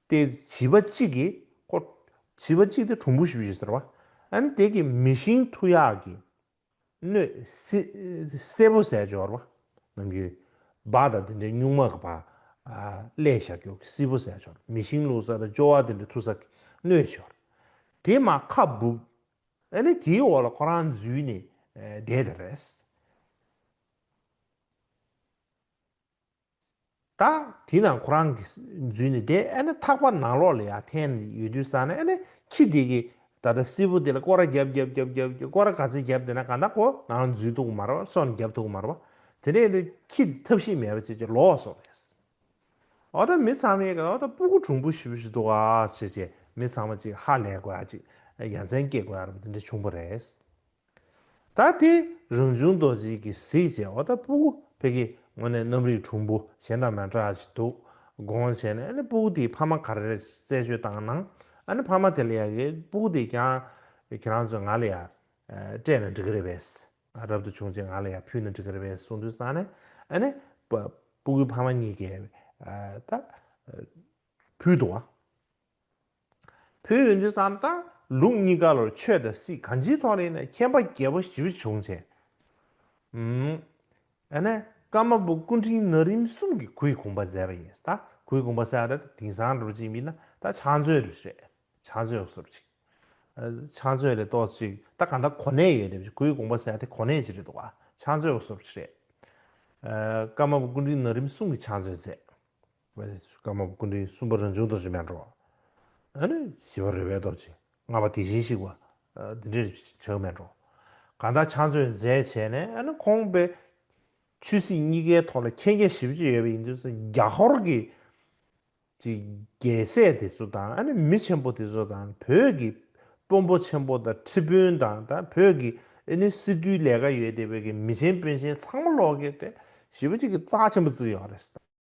ཏེ། བྱིས་པ་གཅིག་གིས་ཁོ། བྱིས་པ་གཅིག་དེ་གྲུང་བུ་ཞིག་ཟེར་བ། ཨན་དེ་གིས་མི་ཤིང་ཐུ་ཡག་གིས། སྣོད། སེར་པོ་ཟས་སྦྱོར་བ། ནང་གི། བ་དང་དེ་འདྲའི་སྨྱུག་མ་གི་བ། བསླས་ཞག་སྐྱོགས་ཀྱི་སིལ་བུ་ཟས་སྦྱོར། མི་ཤིང་བླུག་ས་དང་སྤྱོ་བ་དེ་འདྲའི་ཐུ་ས་གིས་སྣོད་སྦྱོར། དེ་མ་ཁ་སྦུབ། ཨན་དེ་དེའི་འོག་ལ་ཁོ་རང་འཛུལ་ནས་བསྡད་དེ་རེད། ད་དེ་ན་ཁོ་རང་གིས་འཛུལ་ནས་བསྡད་ཨ་ན་ཐག་པ་ནང་ལོགས་ལ་ཡང་འཐེན་ནས་ཡོད་དུས་ས་ན་ཨ་ན་ཁྱི་དེ་གིས་ད་ལྟ་བསིལ་པོ་དེ་ལ་སྐོར་ར་རྒྱབ་རྒྱབ་རྒྱབ་རྒྱབ་སྐོར་ར་ག་ཚོད་རྒྱབ་བསྡད་ན་ག་ན་ཁོ་ནང་ལ་འཛུལ་ཐུག་མ་ར་བ་སོ་ན་རྒྱབ་ཐུག་མ་ར་བ་དེ་འདྲས་དུས་ཁྱི་དེ་ཐབས་ཤེས་མེད་པ་བྱས་བྱས་ལོགས་སོ་རེད། ཨོ་ད་མི་ཚང་མའི་ཨོ་ད་སྤུ་གུ་གྲུང་པོ་ཞིག་པོ་ཞིག་འདུག་ཨ་ཨ་བྱས་བྱས་མི་ཚང་མ་ཅིག་ཧ་ལས་དགོས་ཨ་ཅིག་ཡ་མཚན་སྐྱེས་དགོས་ཨ་ར་བ་དེ་འདྲས་བྱུང་པོ་རེད། ད་ལྟའི་རང་བྱུང་རྡོ་རྗེའི་གི་གཟིགས་བྱས་འོ་ད་པུ་གུ་ཕེ་ཀི་ངོ་ནས་གནམ་རིག་གྲུང་པོ་གཞན་དང་མ་འདྲ་ཞིག་འདུག་དགོངས་བྱས་ནས་ཨ་ནི་པུ་གུ་དེའི་ཕ་མ་ག་རེ་རེད་རྩད་གཅོད་བཏང་ན་ཨ་ནི་ཕ་མ་དེ་ལ་ཡ་གི་པུ་གུ་དེས་ཀྱང་ཁྱེད་རང་ཚོས་ང་ལ་ཡ་སྤྲད་ན་འགྲིག་གི་རེད་བས། རབ་ཏུ་བྱུང་རྗེས་ང་ལ་ཡ་ཕུལ་ན་འགྲིག་གི་རེད་བས་གསུངས་དུས་སང་ནས་ཨ་ནི་པུ་གུའི་ཕ་མ་གཉིས་ཀས་ད་ཕུལ་འདུག་བ། བོད་འོན་ཏུ་སམ་སྟག་ལུང་གཉིས་ཀ་ལོར་ཆོས་དང་སྲིད་གང་ཅིའི་ཐོག་ལས་ན་མཁྱེན་པ་རྒྱལ་པོ་ཞི་བ་བྱུང་བྱས། ཡང་ན་ཀརྨ་པ་སྐུ་འཕྲེང་ན་རིམ་གསུམ་གྱི་གུས་གུང་པ་མཛད་པ་ཡིན་སྟག་གུས་གུང་པ་སེ་ཨ་ར་ཏི་དིང་སང་རུ་ཅིག་མིན་ན་ད་ཕྱག་མཛོད་རུ་རེད་ཕྱག་མཛོད་སོ་རུ་ཅིག་ཕྱག་མཛོད་ལས་གཏོགས་ཅིག་ད་གང་ད་གོ་གནས་ཡོད་རེད་གུས་གུང་པ་སེ་ཨ་ཏི་གོ་གནས་ཅིག་རེད་འདུག་ཕྱག་མཛོད་སོ་རུ་ཅིག་རེད། ཀརྨ་པ་སྐུ་འཕྲེང་ན་རིམ་གསུམ་གྱི་ཕྱག་མཛོད་མཛད། བའི་སྐར་མ་ཀུན་འདྲིལ་གསུམ་པ་རང་བྱུང་རྡོ་རྗེ་མེ་འགྲོ། ཨ་ནི་བཞི་པ་རེ་བའི་རྡོ་རྗེ་ལྔ་པ་དེ་བཞིན་གཤེགས་པ། དེ་འདྲིལ་བྱང་མེ་འགྲོ། གང་དག་ཕྱག་མཛོད་མཛད་བྱས་ནས་ཨ་ནི་ཁོང་པའི། ཆོས་སྲིད་གཉིས་ཀའི་ཐོག་ལ་མཁྱེན་རྒྱ་བཞི་བཅུ་ཡོད་པ་ཡིན་དུས་སུ་རྒྱ་ཧོར་གྱི། ཀྱི་རྒྱལ་སྲས་དེ་ཚོ་དང་ཨ་ནི་མི་ཆེན་པོ་དེ་ཚོ་དང་བོད་ཀྱི། དཔོན་པོ་ཆེན་པོ་དང་ཁྲི་དཔོན་དང་དང་བོད་ཀྱི་ཨེ་ནི་སི་ཏུའི་ལས་ཀ་ཡོད་དེ་བོད་ཀྱི་མི་ཆེན་དཔོན་ཆེན་ཚང་མ་ལོག་གི་དེ་བཞི་པ་གཅིག་གི་རྩ་ཆེན་པོ་བརྩིགས་ཡོང་བ་རེད།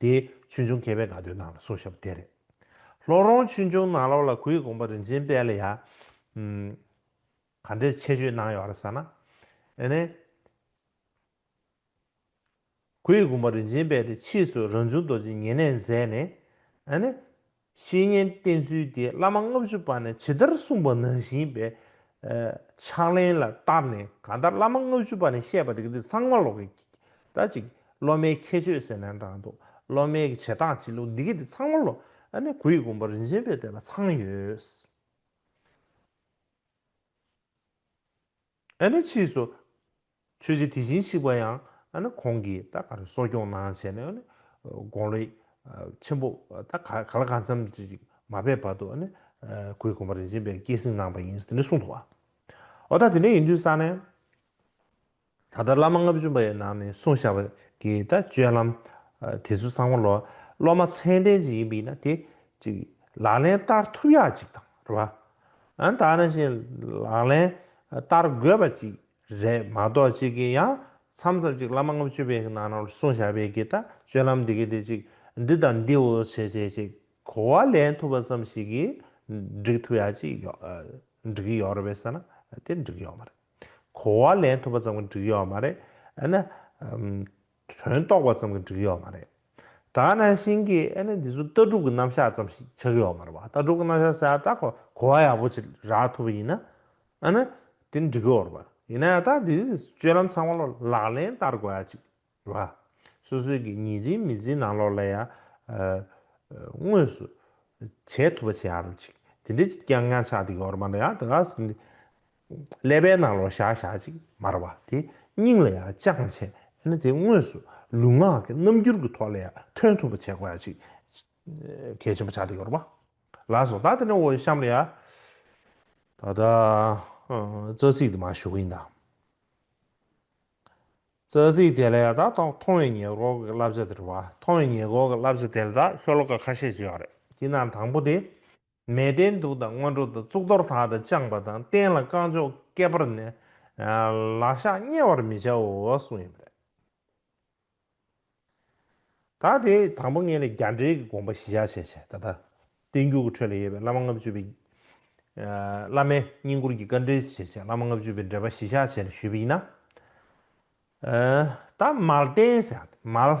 དེ་ཆོས་འབྱུང་མཁས་པའི་དགའ་སྟོན་ནང་ལ་སོ་ཞབས་དེ་རེད། ལྷོ་རོང་ཆོས་འབྱུང་ནང་ལོག་ལ་གུའི་དགོངས་པ་རིན་ཆེན་དཔལ་ལ་ཡང། ག་འདྲའི་ཆད་གཅོད་གནང་ཡོད་རེད་ས་ན། ཨེ་ནས། གུའི་དགོངས་པ་རིན་ཆེན་དཔལ་དེ་ཕྱིས་སུ་རང་བྱུང་རྡོ་རྗེ་ཉེ་གནས་མཛད་ནས། ཨེ་ནས། བཤེས་གཉེན་བསྟེན་ཚུལ་དེ་བླ་མ་ལྔ་བཅུ་པ་ནས་ཇི་ལྟར་གསུངས་པ་ནང་བཞིན་པའི་ཕྱག་ལེན་ལ་བསྟར་ནས་གང་ལྟར་བླ་མ་ལྔ་བཅུ་པ་ནས་བཤད་པ་དེ་འདི་ཚང་མ་ལོག་གི། ད་ཅིག་སློབ་མའི་ཁྱད་ཆོས་ཟེར་ན་འདྲ་འདུག་སློབ་མའི་གི་བྱེད་སྟངས་བྱེད་ལུགས་འདི་གི་དེ་ཚང་མ་ལོག་ཨ་ནི་གུ་ཡི་དགོངས་པ་རིན་ཆེན་པའི་དེ་ལ་ཚང་ཡོད། ཨ་ནི་ཕྱིས་སུ། ཆོས་རྗེ་དེ་བཞིན་གཤེགས་པ་ཡང་ཨ་ནི་གོང་གི་ད་ག་རེ་གསོ་སྐྱོང་གནང་བྱས་ནས་ཨ་ནི་དགོངས་ལས་ཆེན་པོ་ད་ག་ག་ལ་ག་འཚམས་ཅི་ཞིག་མ་བས་བར་དུ་ཨ་ནི་གོས་གོན་པ་རིན་ཆེན་པས་བསྐྱེད་བསྲིང་གནང་བ་ཡིན་ཟེར་ནས་གསུངས་འདུག་བ། འོ་ད་དེ་འདྲ་ཡིན་དུས་ས་ནས། ད་ལྟ་བླ་མ་ལྔ་བཅུ་པ་ཡི་ནང་ནས་གསུངས་བཞག་པ་གི་ད་སྤྱོད་ལམ་དེ་ཚོ་ཚང་མ་ལོ་སློབ་མ་ཚད་ལྡན་ཅིག་ཡིན་པ་ཡིན་ན་དེ་ཅིག་ལག་ལེན་བསྟར་ཐུབ་ཡག་ཅིག་དང་རེ་བ། ད་ནང་བཞིན་ལག་ལེན་བསྟར་དགོས་པ་ཅིག་རེད་མ་གཏོགས་གཅིག་གིས་ཡང་མཚམས་མཚམས་ཅིག་བླ་མ་ལྔ་བཅུ་པའི་ནང་ནང་གསུང་བྱ་བའི་གི་ད་སྤྱོད་ལམ་འདི་གི་འདི་ཅིག་འདི་དང་འདིའོ་བྱས་བྱས་ཅིག་གོ་བ་ལེན་ཐུབ་པ་ཙམ་ཞིག་གིས་འགྲིག་ཐུབ་ཡག་ཅིག་འགྲིག་གི་ཡོད་རེད་བསམ་ན་དེ་འགྲིག་ཡོད་མ་རེད་གོ་བ་ལེན་ཐུབ་པ་ཙམ་གྱི་འགྲིག་ཡོད་མ་རེད་ཨ་ན། དོན་རྟོགས་པ་ཙམ་གྱི་འགྲིག་ཡོད་མ་རེད། ད་ནང་བཞིན་གྱི་ཨེ་ནི་འདི་ཚོ་ལྟ་གྲུབ་ཀྱི་རྣམ་གཞག་ཙམ་ཞིག་ཆགས་ཡོད་མ་རེད་པ་ལྟ་གྲུབ་ཀྱི་རྣམ་གཞག་ཟེར་ཡག་ད་ཁོ་གོ་བ་ཡག་པོ་ཅིག་རག་ཐུབ་པ་ཡིན་ན་ཨ་ནི་དེ་འགྲིག་གི་ཡོད་རེད་པ་ཡིན་ན་ཡག་ད་འདི་སྤྱོད་ལམ་ཚང་མ་ལག་ལེན་བསྟར་དགོས་ཡག་ཅིག་རེད་པ་སོ་སོའི་གི་ཉིན་རེའི་མི་ཚེའི་ནང་ལོག་ལ་ཡ་དངོས་སུ་བྱེད་ཐུབ་པ་བྱེད་ཡག་རེད་ཅིག་དེ་འདྲའི་ཀྱང་ཉམས་ཆགས་དེ་ཡོད་རེད་པ་ཡག་ད་ག་ཟེ་འདི་ཀླད་པའི་ནང་ལོག་ཞག་ཞག་ཅིག་མར་བ་དེ་སྙིང་ལ་ཡང་བཅངས་བྱས་ན་དེ་དངོས་སུ་ལུས་ངག་གི་རྣམ་འགྱུར་གྱི་ཐོག་ལ་ཡང་ཐོན་ཐུབ་པ་བྱེད་དགོས་ཡ་ཅིག་གལ་ཆེན་པོ་ཆགས་ཏེ་ཡོད་རེད་པ་ལགས་སོ། ད་དེ་ནས་འོ་གཤམ་ལ་ཡ་ད་ལྟ་རྩ་ཚིག་དེ་མ་ཞུ་གིན་ད། རྩ་ཚིག་དེ་ལ་ཡ་ད་ཐོག་མཐོང་བའི་ཉེས་འགོག་གི་བསླབ་བྱ་དེ་རེད་བ། མཐོང་བའི་ཉེས་འགོག་གི་བསླབ་བྱ་དེ་ལ་ད་ཤོ་ལོ་ཀ་ཁ་ཤས་བརྗོད་ཡག་རེད་དེའི་ནང་དང་པོ་དེ། མས་བརྟན་དུག་དང་སྔོན་འགྲོ་དང་གཙུག་ཏོར་དག་དང་བཅངས་པ་དང་སྟན་ལ་རྐང་མཆོག་བཀལ་བར་ནི། ལག་ཤག་བསྙལ་བར་མི་བྱའོ་གསུངས་ཡོད་པ་རེད། ད་དེ་དང་པོ་ངེད་ལ་རྒྱ་འགྲེལ་གྱི་དགོངས་པ་གཞི་བཞག་བཤད་བྱས་ད་ལྟ་བསྟན་འགྱུར་གྱི་ཁྲོད་ལ་ཡོད་པའི་བླ་མ་ལྔ་བཅུ་པའི། བླ་མའི་བསྙེན་བཀུར་གྱི་བཀའ་འགྲེལ་གྱི་བྱེད་ཆས་བླ་མ་ལྔ་བཅུ་པའི་འགྲེལ་པ་གཞི་བཞག་བྱས་ནས་ཞུས་པ་ཡིན་ན། ད་མལ་བསྟན་ཟེར་ཡང་དེ་མལ།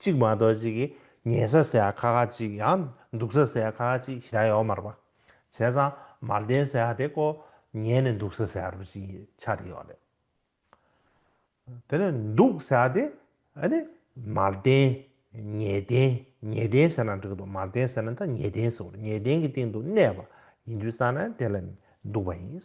གཅིག་མ་གཏོགས་གཅིག་གིས་ཉལ་ས་ཟེར་ཡག་ཁ་ཁ་གཅིག་ཡང་འདུག་ས་ཟེར་ཡག་ཁ་ཁ་གཅིག་བཞག་ཡོག་མར་པ། བྱས་ཙང་མར་ལྡན་ཟེར་ཡག་དེ་ཀོ་ཉལ་ནས་འདུག་ས་ཟེར་ཡག་རུ་ཞིག་ཆགས་དེ་ཡོག་རེད། དེ་ནས་འདུག་ཟེར་ཡག་དེ་ཨ་ནི་མར་ལྡན། ཉལ་ལྡན་ཉལ་ལྡན་ཟེར་ན་འགྲིག་གི་འདུག་མར་ལྡན་ཟེར་ན་ད་ཉལ་ལྡན་ཟེར་བ་རེད་ཉལ་ལྡན་གྱི་སྟེང་དུ་གནས་པ་ཡིན་དུས་ས་ན་དེ་ལ་འདུག་པ་ཡིན།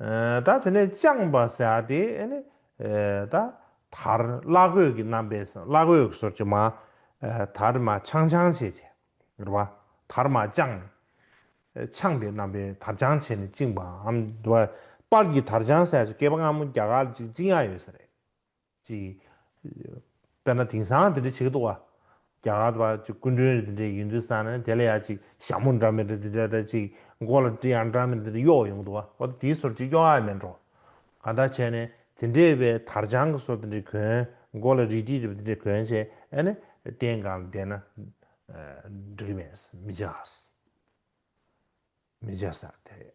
ད་དེ་ནས་བཅངས་པ་བྱ་སྟེ། ད་དར་བླ་གོས་ཀྱི་རྣམ་པས་སུ་བླ་གོས་གསོར་གྱི་མ། དར་མ་འཆང་འཆང་བྱེད་ཅེས་རེ་བ། དར་མ་བཅངས་ནས། འཆང་པའི་རྣམ་པས་དར་འཆང་བྱས་ནས་བཅིངས་པའམ། དཔག་གིས་དར་འཆང་བྱ་ཞེས་སྐལ་པ་སྔ་མོ་རྒྱ་གར་གཅིག་སྤྱི་ཡང་ཡོད་ས་རེད། ཅིག། དཔེར་ན་དེང་སང་དེ་འདྲ་བྱེད་ཀྱི་འདུག་བ། རྒྱ་གར་བ་ཅིག་སྐུ་མགྲོན་རེ་དེ་འདྲས་ཡོད་འདུག་བསམ་ན་དེ་ལ་ཡང་ཅིག་ཞྭ་མོ་འདྲ་མེད་རེ་དེ་འདྲས་དང་ཅིག་མགོ་ལ་སྤྲི་ཡང་འདྲ་མེད་རེ་དེ་འདྲས་གཡོགས་ཡོང་གི་འདུག་བ། འོ་ན་དེའི་སོར་ཅིག་གཡོགས་ཨ་མེད་འགྲོ། གང་འདྲ་བྱས་ནས་དེ་འདྲས་པའི་དར་དཔྱང་གི་སོར་དེ་འདྲས་གྱོན། མགོ་ལ་རིས་སྤྲི་རེ་དེ་འདྲས་གྱོན་བྱས་ཨེ་ནི་རྟེན་གང་ལ་བསྡད་ན། འགྲིག་གི་མེད། མི་བྱ། མི་བྱ་ས་དེ་རེད།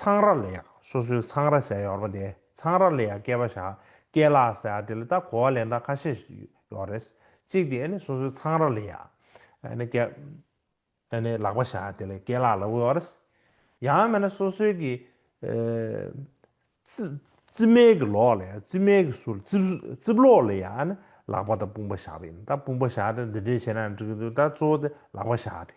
ཚང་ར་ལ་ཡག་སོ་སོའི་ཚང་ར་ཟེར་ཡོད་རེད་པ་དེ་ཚང་ར་ལ་ཡག་སྐད་པ་བཞག་སྐད་ལ་ཟེར་དེ་ལ་ལྟ་གོ་བ་ལས་འདའ་ཁ་ཤས་ཡོད་རེད་གཅིག་དེ་ནི་སོ་སོའི་ཚང་ར་ལ་ཡག་ནི་སྐད་ནི་ལག་པ་བཞག་དེ་ལ་སྐད་ལ་ལ་ཡོད་རེད་ཡང་མེད་ན་སོ་སོའི་གི་རྩི་མལ་གི་ལོག་ལ་ཡག་རྩི་མལ་གི་ཟུར་རྩིབ་ལོག་ལ་ཡག་ནི་ལག་པ་དང་དཔུང་པ་བཞག་པ་ཡིན་ད་དཔུང་པ་བཞག་དེ་འདི་འདྲས་བྱས་ན་འགྲིག་གི་འདུག་ད་གཙོ་བོ་དེ་ལག་པ་བཞག་དེ།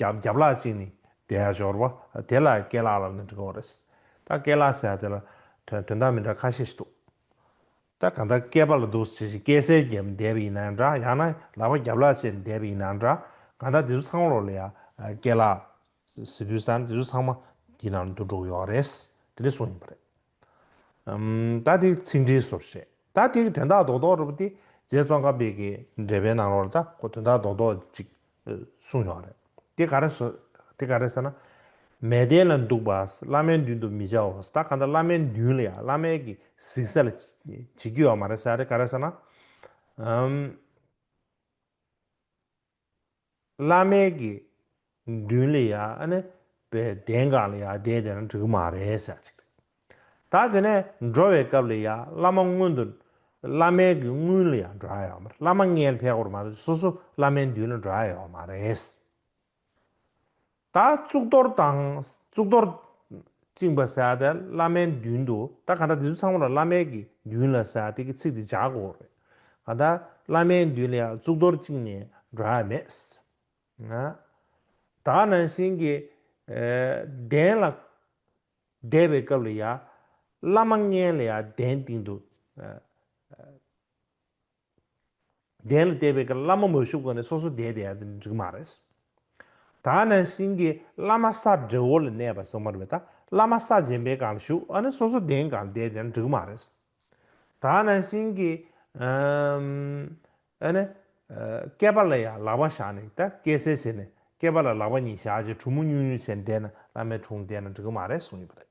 རྒྱབ་རྒྱབ་ལག་གཅིག་ནི་དེའི་སྦྱོར་བ། དེ་ལ་སྐད་ལག་ལབ་ནི་འབྲི་གོང་རེད། ད་སྐད་ལག་ཟེར་ཡ་དེ་ལ་དོན་དོན་དག་མི་འདྲ་ཁ་ཤས་ཤིག་འདུག། ད་གང་ལྟར་སྐད་པ་ལ་འདུག་ཟེར་བཞིན་སྐད་གསལ་རྒྱབ་ནི་འདས་པ་ཡིན་ན་འདྲ་ཡང་ན་ལག་པ་རྒྱབ་ལག་གཅིག་ནི་འདས་པ་ཡིན་ན་འདྲ། གང་ལྟར་དེ་ཚོ་ཚང་བར་ལ་ཡང་སྐད་ལག། ཟེར་དུས་ད་དེ་ཚོ་ཚང་མ་དེའི་ནང་དུ་འགྲོ་གི་ཡོད་རེད། དེ་འདྲའི་གསུང་ཡིན་པ་རེད། ཏག་ཏིག་ཚིག་འབྲེལ་སོགས་བཤད། ཏག་ཏིག་དོན་དག་རྡོག་རྡོག་རེད་པོ་དེ་རྗེ་ཙོང་ཁ་དཔེ་གི་འགྲེལ་པའི་ནང་རོལ་ད་ཁོ་དོན་དག་རྡོག་རྡོག་ཅིག་གསུངས་ཡོང་རེད། དེ་ག་རེད་ཟེར་ན། མལ་སྟན་ལ་འདུག་པའོ་བླ་མའི་མདུན་དུ་མི་བྱའོ་ད་ག་འདྲ་བླ་མའི་མདུན་ལ་ཡང་བླ་མའི་གི་གཟིགས་ས་ལ་བྱེད་ཀྱི་ཡོད་མ་རེད་ཟེར་ཡ་དེ་ག་རེད་ཟེར་ན། བླ་མའི་དགེ་འདུན་ལ་ཡ་ནི་པའི་གདན་གང་ལ་ཡ་བསྡད་དེ་ན་འགྲིག་གི་མ་རེད་ཟེར་ཅིག་རེད། ད་དེ་ནས་འགྲོ་བའི་སྐབས་ལ་ཡ་བླ་མ་སྔོན་དུ་བླ་མའི་དགེ་དངུལ་ལ་ཡ་འགྲོ་ཨ་ཡོད་མ་རེད་བླ་མ་མངལ་ཕལ་བར་མ་ཟོས་སོ་སོ་བླ་མའི་མདུན་ལ་འགྲོ་ཨ་ཡོད་མ་རེད། ད་གཙུག་ཏོར་དང། གཙུག་ཏོར། བཅིངས་པ་སེ་ཨ་ཏེ་བླ་མའི་མདུན་དུ་ད་ག་ད་དེ་ཚོ་ཚང་མ་ལ་བླ་མའི་གི་མདུན་ལ་སེ་ཨ་ཏེ་གི་ཚིག་དེ་བྱ་དགོས་རེད། ག་ད་བླ་མའི་མདུན་ལ་ཡང་གཙུག་ཏོར་བཅིངས་ནས་འགྲོ་ཡ་མེད། ང། ད་ནང་བཞིན་གི། གདན་ལ། བསྡད་པའི་སྐབས་ལ་ཡ། བླ་མ་མངལ་ལ་ཡ་གདན་སྟེང་དུ། གདན་ལ་བལྟས་པས་ཀྱང་བླ་མ་མ་བཞུགས་པ་ནས་སོ་སོ་བསྡད་བསྡད་ཡ་དེ་འགྲིག་མ་རེད། ད་ནང་བཞིན་གྱི་བླ་མ་ས་བྲེ་བོ་ལ་གནས་པ་སོ་མར་བས་ད་བླ་མ་ས་རྗེན་པའི་སྒང་ལ་བཞུགས་ཨ་ནི་སོ་སོ་གདན་གང་ལ་བསྡད་བསྡད་ན་འགྲིག་མ་རེད། ད་ནང་བཞིན་གྱི་ཨ་ནི་སྐལ་པ་ལ་ཡང་ལག་པ་བཞག་ནས་ད་སྐད་གསལ་བྱས་ནས་སྐལ་པ་ལ་ལག་པ་གཉིས་བཞག་ཅིང་གྲུ་མོ་སྙུག་སྙུག་བྱས་ནས་བསྡད་ན་བླ་མའི་དྲུང་བསྡད་ན་འགྲིག་མ་རེད་གསུངས་ཡོད་པ་རེད།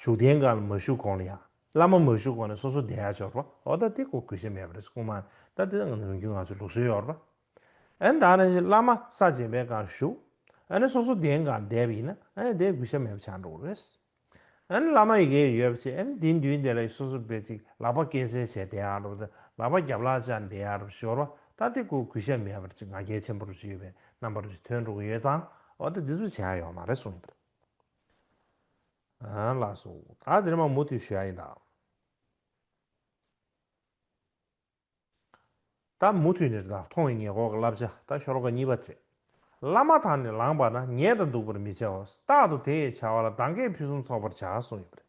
བཞུགས་གདན་གང་ལ་མ་བཞུགས་གོང་ལ་ཡང། བླ་མ་མ་བཞུགས་གོང་ནས་སོ་སོ་གདན་ཡར་ཕྱོགས་རོགས། ཨོ་ད་དེ་ཀོ་གུས་ཞེན་མེད་པ་རེད་སྐུ་མ། ད་དེ་ནང་རིང་རྒྱུན་ང་ཚོའི་ལུགས་སྲོལ་ཡོད་རོགས། ཨེ་ན་ད་རང་བཞིན་བླ་མ་ས་བྱན་པའི་གང་བཞུགས། ཨེ་ན་སོ་སོ་གདན་གང་བསྡད་པ་ཡིན་ན་ཨེ་ཡང་དེ་གུས་ཞེན་མེད་པ་ཆགས་འགྲོ་གི་རེད། ཨེ་ན་བླ་མ་ཡི་གེ་ཡོད་པ་བྱས་ཨེ་ན་དེའི་མདུན་དེ་ལ་ཡི་སོ་སོ་སྦེད་ཅིག་ལག་པ་སྐེ་གསལ་བྱས་བསྡད་ཡང་རོགས། ལག་པ་རྒྱབ་ལག་བཅག་བསྡད་ཡང་རོགས་ཞོར་བ་ད་དེ་ཀོ་གུས་ཞེན་མེད་པ་རེད་ཅེས་ང་རྒྱལ་ཆེན་པོ་རོགས་ཞུས་པའི་རྣམ་པ་རོགས་ཞུས་ཐོན་འགྲོ་གི་ཡོད་ཙང་ཨོ་ད་དེ་ཚོ་བྱས་ཡོད་མ་རེད་གསུངས་ཡོད་པ་རེད། ལ་སོགས་ད་འདིར་མ་མོ་དུས་ཞུ་ཡ་ཡིན་ད། ད་མུ་ཐུད་ནས་ད་མཐོང་བའི་ངེས་འགོག་གི་བསླབ་བྱ་ད་ཤོར་ཀ་གཉིས་པ་དེ། བླ་མ་དང་ནི་ལངས་པ་ན་ཉལ་དང་འདུག་པར་མི་བྱའོ་རྟག་ཏུ་དེ་ཡི་བྱ་བ་ལ་གདངས་ཀས་ཕུན་སུམ་ཚོགས་པར་བྱ་གསུངས་ཡོད་པ་རེད།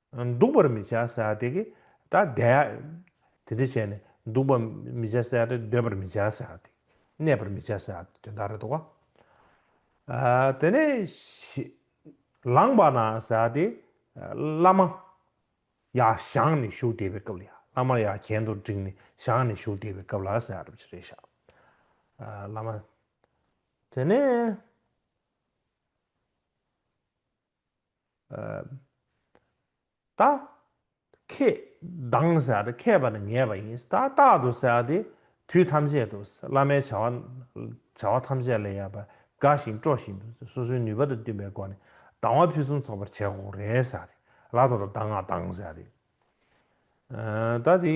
འདུག་པར་མི་བྱ་བསལ་བ་དེ་གིས་ད་བཟླས། དེ་འདྲ་བྱས་ནས་འདུག་པར་མི་བྱ་བསལ་བ་དེ་སྡོད་པར་མི་བྱ་བསལ་བ་དེ་གནས་པར་མི་བྱ་བསལ་བ་དེ་དོན་དག་རེ་དོགས། དེ་ནས། ལངས་པ་ན་བསལ་བ་དེ། བླ་མ། ཡ་ཞང་ནས་བཞུགས་བསྡད་པའི་སྐབས་ལ་ཡ། བླ་མ་ཡ་གྱེན་དུ་བསྒྲིགས་ནས་ཞང་ནས་བཞུགས་བསྡད་པའི་སྐབས་ལ་བསལ་བ་རེ་བྱ། བླ་མ། དེ་ནས། ད། ཁྱེད། སྡང། ཟེར་ཏེ་མཁས་པ་ནི་ངེས་པ་ཡིན། ད་རྟག་ཏུ་ཟེར་ཏེ། དུས་ཐམས་ཅད་དུ། བླ་མའི་བྱ་བ། བྱ་བ་ཐམས་ཅད་ལས་ཡལ་བར་དགའ་ཞིང་སྤྲོ་བཞིན་དུ། སོ་སོའི་ནུས་པ་དང་བསྟུན་པའི་སྒོ་ནས། སྡང་བ་ཕུན་སུམ་ཚོགས་པར་བྱས་ཀོ་རེ་ཟེར་ཏེ། ལ་དོ་ད་སྡང་ང་སྡང་ཟེར་ཏེ། ད་དེ།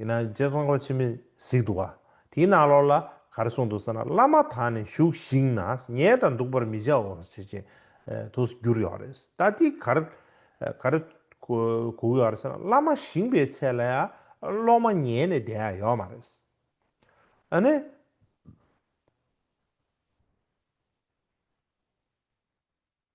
ཡིན་ན་རྗེ་ཙོང་ཁ་ཆེན་མོས་གཟིགས་འདུག་ག་དེའི་ནང་ལོགས་ལ་ག་རེ་གསུངས་འདུག་ཟེར་ན་བླ་མ་དག་ནི་བཞུགས་ཤིང་ན་ཉལ་དང་འདུག་པར་མི་བྱའོ་ཞེས་བྱས་དུ་བསྒྱུར་ཡོད་རེད་ད་འདི་ག་རེ་ག་རེ་གོ་ཡོད་རེད་ཟེར་ན་བླ་མ་བཞེངས་པའི་ཚད་ལ་ཡང་སློབ་མ་ཉལ་ནས་བསྡད་ཡ་ཡོད་མ་རེད། ཨ་ནི།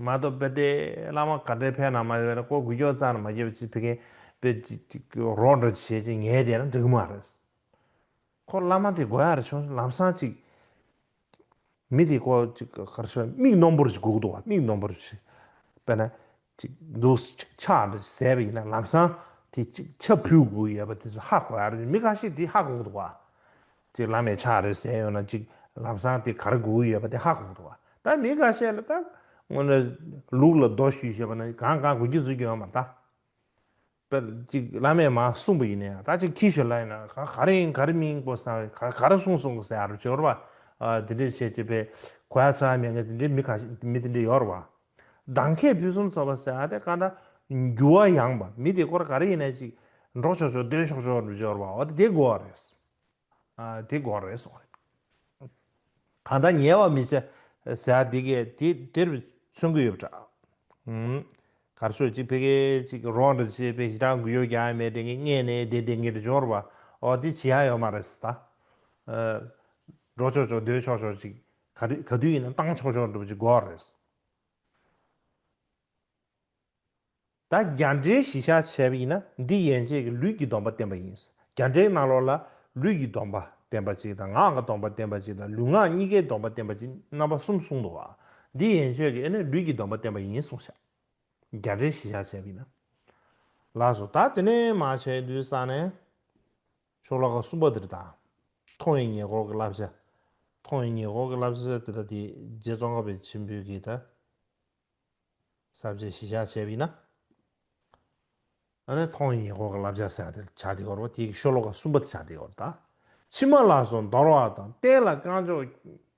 མ་གཏོགས་དཔེ་ལྟའི་བླ་མ་ག་འདྲའི་ཕན་ནང་མ་ཡོད་ན་ཀོ་གུ་ཀྱོག་ཙག་ནང་མ་སྐྱེས་པ་ཅིག་ཕི་གེ་པེ་རོགས་འདྲ་བྱེད་ཅེས་ངས་བྱས་ན་འགྲིག་མ་རེད། ཁོ་བླ་མ་དེ་དགོས་ཡ་རེད་བྱུང་སོང་ལམ་སང་ཅིག་མི་དེ་ཀོ་ཅིག་ག་རེ་བྱས་ན་མིག་སྣོམ་པོ་རུ་ཅིག་སྒུག་འདུག་བ་མིག་སྣོམ་པོ་རུ་ཅིག་དཔེ་ན་ཅིག་འདུག་སུ་ཅིག་ཕྱག་འདྲ་ཅིག་ཟས་པ་ཡིན་ན་ལམ་སང་དེ་ཅིག་ཕྱག་ཕུལ་དགོས་ཡོད་པ་དེ་ཚོ་ཧ་གོ་ཡ་རེད་བྱུང་མི་ག་ཤེད་དེ་ཧ་སྒུག་འདུག་བ། གཅིག་བླ་མའི་ཕྱག་རེ་གསན་ཡོང་ན་གཅིག་ལམ་སང་དེ་གར་སྒུག་ཡོད་པ་དེ་ཧ་གོ་འདུག་ད་མི་འགའ་ཤས་ལ་ད་སྔོན་ར་ལུག་ལ་རྡོ་གཞུས་བཞེས་པ་ན་གང་གང་དགོས་ཀྱི་བཟོས་ཀྱི་ཡོད་མ་ད་ད་གཅིག་བླ་མས་མ་གསུངས་པ་ཡིན་ན་ཡང་ད་གཅིག་ཁྱི་ཞོ་ལ་ཡིན་ན་ག་ག་རེ་ཡིན་ག་རེ་མིན་གོ་ས་ག་ག་རེ་གསུངས་སོང་གོ་ས་ཡ་རབས་ཇོར་བ་དེ་འདྲས་བྱས་བྱས་པས་གོ་ཡ་ཚོ་ཡ་མེད་ཀ་དེ་འདྲས་མི་ག་མི་དེ་འདྲས་ཡོར་བ་གདང་ཁས་ཕུན་སུམ་ཚོགས་པ་ས་ཡ་དེ་ཀ་འདྲ་འགྱུ་བ་ཡང་བ་མི་དེ་སྐོར་ག་རེ་ཡིན་ན་གཅིག་འགྲོགས་ཆོག་ཆོག་སྡོད་ཆོག་ཆོག་རབས་ཇོར་བ་འོ་དེ་དེ་གོ་བ་རེད། དེ་དགོངས་རེད་གསུངས་རེད། གང་ལྟར་ཉེས་བ་མི་བྱེད་ཟེར་ཡག་འདི་གས་དེ་དེར་མཚོན་གི་ཡོད་པ་འདྲ། གར་སོས་ཅིག་ཕེ་ཁེ་ཅིག་རོགས་འདྲ་བྱེད་པའི་ཞེ་དྲག་འགུལ་ཡོད་ཀྱང་མེད་དེ་ངས་མངལ་ནས་དེ་དེ་འགེལ་འབྱོར་བ་འོ་དེ་ཇི་ཡང་ཡོད་མ་རེད་ད། འགྲོ་ཆོག་ཆོག་སྡོད་ཆོག་ཆོག་ཅིག་ག་དུས་ཡིན་ན་བཏང་ཆོག་ཆོག་འགྲོ་བ་ཅིག་དགོས་རེད། ད་རྒྱ་འདྲེའི་གཞི་བཞག་བྱས་པ་ཡིན་ན་འདི་ཡན་ཆད་ཀྱི་ལུས་ཀྱི་སྡོམ་པ་བསྟན་པ་ཡིན། རྒྱ་འདྲེའི་སྣང་ལོག་ལ་ལུས་ཀྱི་སྡོམ་པ་བསྟན་པ་གཅིག་དང་ངག་གི་སྡོམ་པ་བསྟན་པ་གཅིག་དང་ལུས་ངག་གཉིས་ཀའི་སྡོམ་པ་བསྟན་པ་གཅིག་རྣམ་པ་གསུམ་གསུངས་འདུག་བ། འདི་ཡན་ཆོད་ཀྱི་ཨེ་ནི་ལུས་ཀྱི་སྡོམ་པ་བསྟན་པ་ཡིན་གསུངས་བཞག། རྒྱ་འདྲེའི་གཞི་བཞག་བྱས་པ་ཡིན་ན། ལགས་སོ། ད་དེ་ནས་མ་བྱས་དུས་ས་ནས། ཤོག་ལྷག་གསུམ་པ་དེར་དང། མཐོང་བའི་ཉེ་འཁོར་གྱི་བསླབ་བྱ། མཐོང་བའི་ཉེ་འཁོར་གྱི་བསླབ་བྱ་དེ་དག་དེ་རྗེ་ཙོང་ཁ་པའི་མཆིམས་ཕུའི་གིས་ད། གསར་བརྗེ་གཞི་བཞག་བྱས་པ་ཡིན་ན། ཨ་ནི་ཐོག་ཉིས་སྐོར་གྱི་བསླབ་བྱ་སེང་ལྡེང་བྱ་དེ་སྐོར་བ་དེ་གི་ཤོ་ལོ་ཀ་གསུམ་པ་དེ་བྱ་དེ་སྐོར་དང། ཕྱི་མ་ལ་སོགས་འདོར་བ་དང་བསྟན་ལ་རྐང་མཆོག་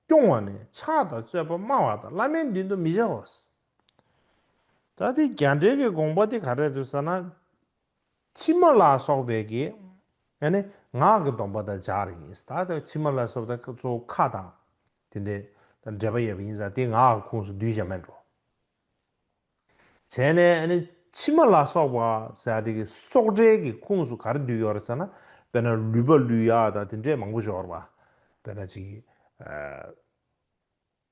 སྐྱོང་བ་ནས་ཕྱག་དང་རྩོད་པ་སྨྲ་བ་དང་བླ་མའི་མདུན་དུ་མི་བཞག་བ། ད་དེ་རྒྱ་འགྲེལ་གྱི་དགོངས་པ་དེ་ག་རེད་དུ་ཟེར་ན། ཕྱི་མ་ལ་སོགས་པའི་གི་ཨ་ནི་ངག་གི་སྡོམ་པ་དང་སྦྱར་ཡིན། ད་དེ་ཕྱི་མ་ལ་སོགས་པ་དང་གཙོ་བོ་ཁ་དང། དེ་འདི་དང་འབྲེལ་པ་ཡོད་པ་ཡིན་ཙང་དེ་ངག་གི་ཁུངས་སུ་བསྡུས་བཞག་མེད་འགྲོ། བྱས་ནས་ཨ་ནི་ཕྱི་མ་ལ་སོགས་པ་ཟེར་བ་དེ་གི་སོགས་འབྲེལ་གི་ཁུངས་སུ་གར་བསྡུས་ཡོད་རེད་ཟེར་ན་དཔེར་ན་ལུས་པ་ལུས་ཡག་དང་དེ་འདྲས་མང་པོ་ཞོར་བ་དཔེར་ན་ཅིག།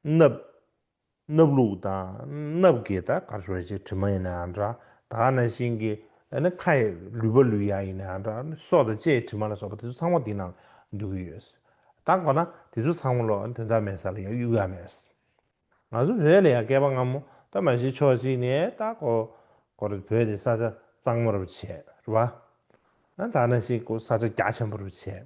སྣབས། སྣབས་ལུག་དང་སྣབས་རྒས་དང་དཀར་ཕྱོགས་ཅན་དྲི་མ་ཡིན་ནའང་འདྲ། དག་ན་ཤིང་གི་ནི་ཁ་ཡི་ལུད་པ་ལུས་ཡག་ཡིན་ནའང་འདྲ། སྲོག་དང་ལྕེའི་དྲི་མ་ལ་སོགས་པ་དེ་ཚོ་ཚང་མ་དེའི་ནང་འདུས་ཀྱི་ཡོད། དང་གོ་ན་དེ་ཚོ་ཚང་མ་ལོ་དོན་དག་མེད་ས་ལ་ཡང་གཡུག་ཡ་མེད། ང་ཚོ་བོད་ལ་ཡང་བསྐལ་པ་སྔ་མོ་ད་མ་གཞི་ཕྱོགས་གཅིག་ནས་ད་གོ་གོ་རུ་བོད་དེ་ས་ཆ་གཙང་མ་རུ་བྱས། རུ་བ། དག་ན་ཤིང་ས་ཆ་རྒྱ་ཆེན་པོ་རུ་བྱས།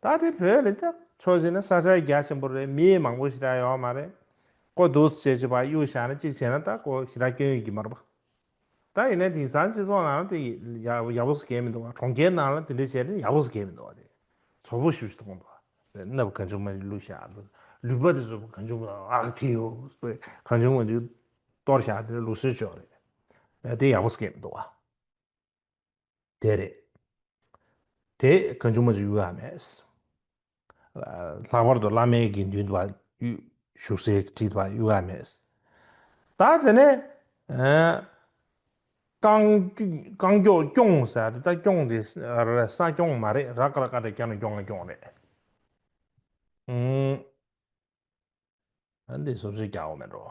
ད་ལྟའི་བོད་ལ་ཀྱང་ཕྱོགས་གཞན་ན་ས་ཆ་རྒྱ་ཆེན་པོ་རེད་མི་མང་པོ་ཞིག་ད་ཡོད་མ་རེད། ཀོ་དུས་བྱེད་ཀྱི་བར་གཡུག་བཞག་ན་གཅིག་བྱས་ན་ད་ཀོ་ཞི་དྲག་སྐྱོན་ཡོད་ཀྱི་མ་རེད་པ། ད་ཡིན་ན་དེང་སང་སྤྱི་ཚོགས་ནང་ལ་དེ་ཡག་པོ་ཟེར་མཁན་མི་འདུག་བ་གྲོང་ཁྱེར་ནང་ལ་དེ་འདྲ་བྱས་ན་ཡག་པོ་ཟེར་མཁན་མི་འདུག་བ་དེ་ཚོགས་པོ་ཞིབ་གཏོང་དགོས་བ། མནབ་གང་བྱུང་མ་རེད་བླུག་བཞག་དེ་ལུས་པ་དེ་ཚོ་གང་བྱུང་ཨག་ཐིག་ཡོད་པའི་གང་བྱུང་མ་བྱུང་གཏོར་བཞག་དེ་ལུགས་སྲོལ་ཅོག་རེད་དེ་ཡག་པོ་ཟེར་མཁན་མི་འདུག་བ། དེ་རེད། དེ་ག་མཇུག་མ་མཇུག་ཡོད་ཡ་མེད། ལྷག་པར་དུ་བླ་མའི་དགེ་འདུན་དུ་བ་བཞུགས་སའི་ཁྲི་དུ་བ་ཡོད་ཡ་མེད། ད་དེ་ནས་རྐང་མགྱོགས་སྐྱོང་ཟེར་ཡ་དེ་ད་སྐྱོང་དེ་ས་སྐྱོང་མ་རེད་ར་ཀ་ར་ཀ་དེ་སྐྱ་ནོ་སྐྱོང་ང་སྐྱོང་རེད། འདི་སོ་སོས་རྒྱག་འོ་མེད་འགྲོ།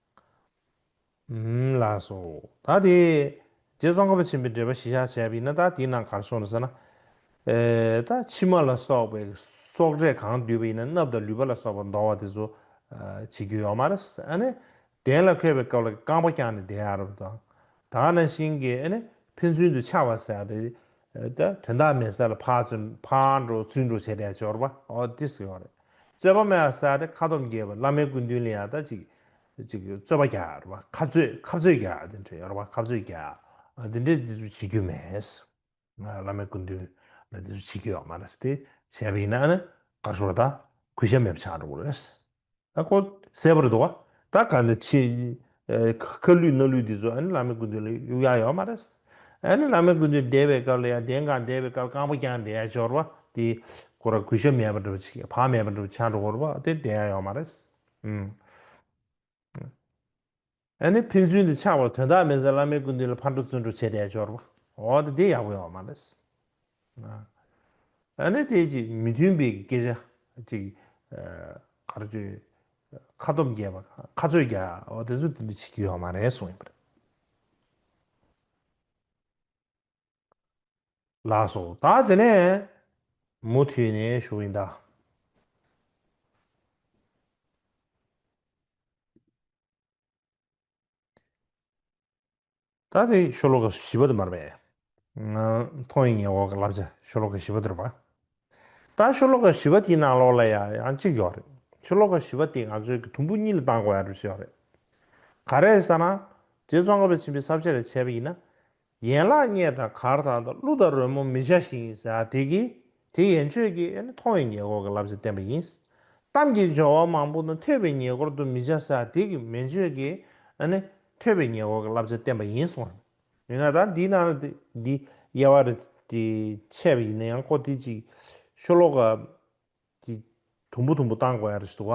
ལགས་སོ། ད་དེ། རྗེ་ཙོང་ཁ་པ་ཆེན་པོས་འགྲེལ་པ་བཞི་བཞག་བྱས་པ་ཡིན་ན་ད་དེའི་ནང་གར་སོང་ཟེར་ན། ད་ཕྱི་མ་ལ་སོགས་པའི་སོག་འབྲས་གང་བསྡུས་པ་ཡིན་ན་སྣབས་དང་ལུད་པ་ལ་སོགས་པ་འདོར་བ་དེ་ཚོ་བྱེད་རྒྱུ་ཡོད་མ་རེད། ཨ་ནི། གདན་ལ་འཁོད་པའི་སྐབས་ལ་རྐང་པ་བརྐྱངས་ནས་གདན་ཨ་རབ་དང། དག་ན་ཤིང་གི་ཨ་ནི་ཕན་ཚུན་དུ་ཕྱག་བ་ཟེར་བ་དེ། ད་དོན་དག་མེད་ས་ལ་ཕར་བཙོན་ཕར་འགྲོ་བཙོན་འགྲོ་བྱས་དལ་འབྱོར་པ་ཨོ་དེ་སྲིད་ཡོང་རེད་རྩོད་པ་མེད་པ་ས་དེ་ཁ་དོམ་རྒྱས་པ་བླ་མའི་སྐུ་མདུན་ལ་ཡང་ད་ཅིག་ཅིག་རྩོད་པ་རྒྱག་རེད་པ་ཁ་རྩོད་ཁ་རྩོད་རྒྱག་དེ་འདྲ་ཡོད་རེད་པ་ཁ་རྩོད་རྒྱག་དེ་འདྲ་དེ་ཚོ་བྱེད་རྒྱུ་མེད། བླ་མའི་སྐུ་མདུན་ལ་དེ་ཚོ་བྱེད་རྒྱུ་ཡོད་མ་རེད་དེ་བྱས་པ་ཡིན་ན་ཨ་ནི་དགའ་ཞོར་ད་གུས་ཞབས་མེད་པ་ཆགས་འགྲོ་གི་རེད། ད་ཁོ་གསལ་བོར་འདུག་ད་ག་ནས་ཆེ། ཁ་ལུས་སྣ་ལུས་འདི་ཚོ་ཨ་ནི་བླ་མའི་སྐུ་མདུན་ལ་གཡུག་ཡ་ཡོད་མ་རེད། ཨ་ནི་བླ་མའི་སྐུ་མདུན་འདས་པའི་སྐབས་ལ་ཡ་བདེན་གང་འདས་པའི་སྐབས་རྐང་པ་བརྐྱངས་འདས་ཡ་སྦྱོར་བ་དེ་ཁོ་ར་གུས་ཞབས་མེད་པ་འདྲ་བ་ཆིག་བག་མེད་པ་འདྲ་བ་ཆ་འགྲོ་བོར་བ་དེ་འདས་ཡ་ཡོད་མ་རེད། ཨ་ནི་ཕན་ཚུན་དུ་ཆགས་པར་དོན་དག་མེད་ཟེར་བླ་མའི་སྐུ་མདུན་ལ་ཕར་འགྲོ་ཚུར་འགྲོ་བྱས་བསྡད་འབྱོར་བ་འོ་ད་དེ་ཡག་པོ་ཡོད་པ་མ་རེད་ཟེར། ཨ་ནི་དེ་ཅིག་མི་མཐུན་པའི་སྐད་ཆ་ཅིག་ག་རེ་བརྗོད་ཁ་སྟོབས་རྒྱས་པ་དང་ཁ་རྩོད་རྒྱག་འོ་དེ་ཚོ་དེ་འདྲ་བྱེད་ཀྱི་ཡོད་མ་རེད་གསུངས་ཡོད་པ་རེད། ལགས་སོ། ད་དེ་ནས་མུ་མཐུད་ནས་ཞུགས་ཡིན་ད། ད་དེ་ཤོ་ལོ་ཀ་བཞི་པ་དུ་མར་པའི། མཐོང་ཡི་ངེས་འོག་གི་བསླབ་བྱ་ཤོ་ལོ་ཀ་བཞི་པ་དུར་བ། ད་ཤོ་ལོ་ཀ་བཞི་པ་དེའི་ནང་ལོགས་ལ་ཡང་ཡང་གཅིག་ཡོག་རེད། ཤོ་ལོ་ཀ་བཞི་པ་དེ་ང་ཚོའི་གི་དུམ་བུ་གཉིས་ལ་བཏང་དགོས་ཡག་རེད་བཞི་ཡོག་རེད། ག་རེད་ས་ན། རྗེ་ཙོང་ཁ་པའི་ཚིམ་པའི་ས་བཅད་ལས་འཆད་པ་ཡིན་ན། ཡན་ལག་སྙེད་དང་གར་དང་དང་གླུ་དང་རོལ་མོ་མི་བྱ་ཞིང་ཡིན་ཟེར་དེ་ཀྱིས་དེ་ཡན་ཆོད་ཀྱི་ནི་མཐོང་བའི་ཉེ་འཁོར་གྱི་བསླབ་བྱ་བསྟན་པ་ཡིན། གཏམ་གྱི་སྦྱོར་བ་མང་པོ་ནི་ཐོས་པའི་ཉེ་འཁོར་དུ་མི་བྱ་ཟེར་དེ་ཀྱིས་མན་ཆོད་ཀྱི་ནི་ཐོས་པའི་ཉེ་འཁོར་གྱི་བསླབ་བྱ་བསྟན་པ་ཡིན་གསུང་ངོ། མི་ང་དག་འདི་ན་རེ་འདི་དབྱེ་བ་རེ་འཆད་པ་ཡིན་ན་ཡང་ཀོ་ཐི་ཅིག་ཤོ་ལོ་ཀ་དེ་དུམ་བུ་དུམ་བུ་བཏང་དགོས་ཡ་རེད་ཞེས་འདུག་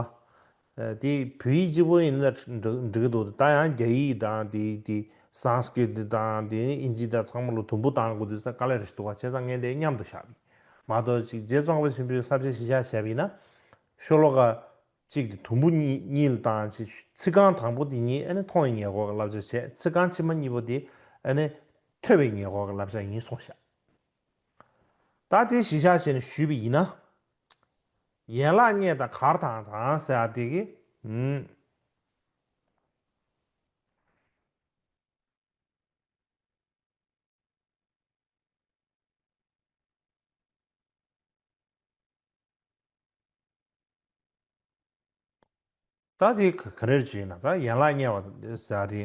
ག། དེ་བོད་ཡིག་སྤྱི་བོ་ཡིན་ལ་འགྲིག་གི་འདུག་ད་ཡང་རྒྱ་ཡིག་དང་དེ་དེ Sanskrit དང་དེ་ཨིན་ཇི་དང་ཚང་མ་ལ་དུམ་བུ་བཏང་དགོས་འདུག་ས་དཀའ་ལས་རེད་ཞེས་འདུག་ག་བྱས་ཙང་ངས་དེ་མཉམ་དུ་བཞག་གི་མ་གཏོགས་ཅིག་རྗེ་བཙོང་པ་ཆེན་པོས་གསར་བརྗེ་གཞི་བཞག་བྱས་པ་ཡིན་ན། ཤོ་ལོ་ཀ་གཅིག་དེ་དུམ་བུ་གཉིས་ལ་བཏང་ཅིག་ཚིག་རྐང་དང་པོ་དེ་གཉིས་ཨེ་ནི་མཐོང་བའི་ཉེ་འཁོར་གྱི་བསླབ་བྱ་བྱས་ཚིག་རྐང་ཕྱི་མ་གཉིས་པོ་དེ་ཨེ་ནི་ཐོས་པའི་ཉེ་འཁོར་གྱི་བསླབ་བྱ་ཡིན་གསུངས་བཞག་ད་དེ་གཞི་བཞག་བྱས་ནས་ཞུས་པ་ཡིན་ན། ཡན་ལག་རྙེད་དང་གར་དང་དང་ཟེར་བ་དེ་གི། ད་དེ་ག་རེར་བྱེད་ན་ག་ཡན་ལག་དམྱལ་བ་དང་དེ་ཟ་དེ་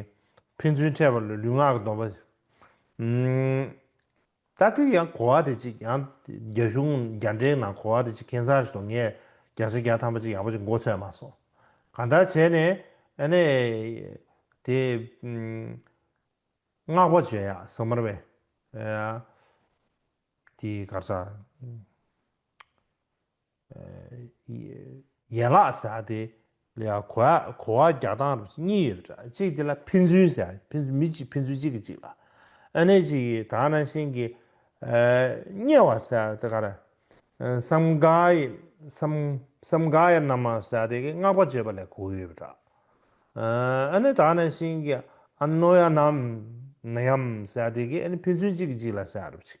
ཕན་ཚུན་འཕྲད་པ་ལུས་ངག་གི་སྡོམ་པ། ད་དེ་ཡང་གོ་བ་དེ་ཅིག་ཡང་རྒྱ་གཞུང་རྒྱ་འགྲེལ་ནང་གོ་བ་དེ་ཅིག་ཁྱེད་ཚང་ཞིག་དང་ངས་རྒྱ་ཆ་བརྒྱ་ཐམ་པ་ཅིག་ཡག་པོ་ཅིག་མགོ་ཚོས་མ་སོང། གང་ལྟར་བྱས་ནས་ཨ་ནེ། དེ། བསྔགས་པ་བྱོས་ཡག་ཟ་མར་བས། དེ་གར་ཟ། ཡན་ལག་ཟག་སྟེ། ལ་གོ་བ་གོ་བ་བརྒྱག་སྟངས་རུ་བཞི་གཉིས་ཡོད་པ་འདྲ་གཅིག་དེ་ལ་ཕན་ཚུན་ཟེར་ཡ་ཕན་ཚུན་མི་གཅིག་ཕན་ཚུན་གཅིག་གི་གཅིག་ལ། ཨ་ནེ་གཅིག་གིས་དག་ན་ཤིང་གི། དམྱལ་བ་ཟེར་ཡ་དེ་ག་ར། སམ་ག་ཡ་སམ་སམ་ག་ཡ་ནམ་མ་ཟེར་ཡ་དེ་གི་སྔགས་པ་བརྗོད་པ་ལས་གོ་བ་ཡོད་པ་འདྲ། ཨ་ནེ་དག་ན་ཤིང་གི་ཨ་ནོ་ཡ་ནམ་ན་ཡམ་ཟེར་ཡ་དེ་གི་ཨ་ནེ་ཕན་ཚུན་གཅིག་གི་གཅིག་ལ་ཟེར་ཡ་རུ་བཞི།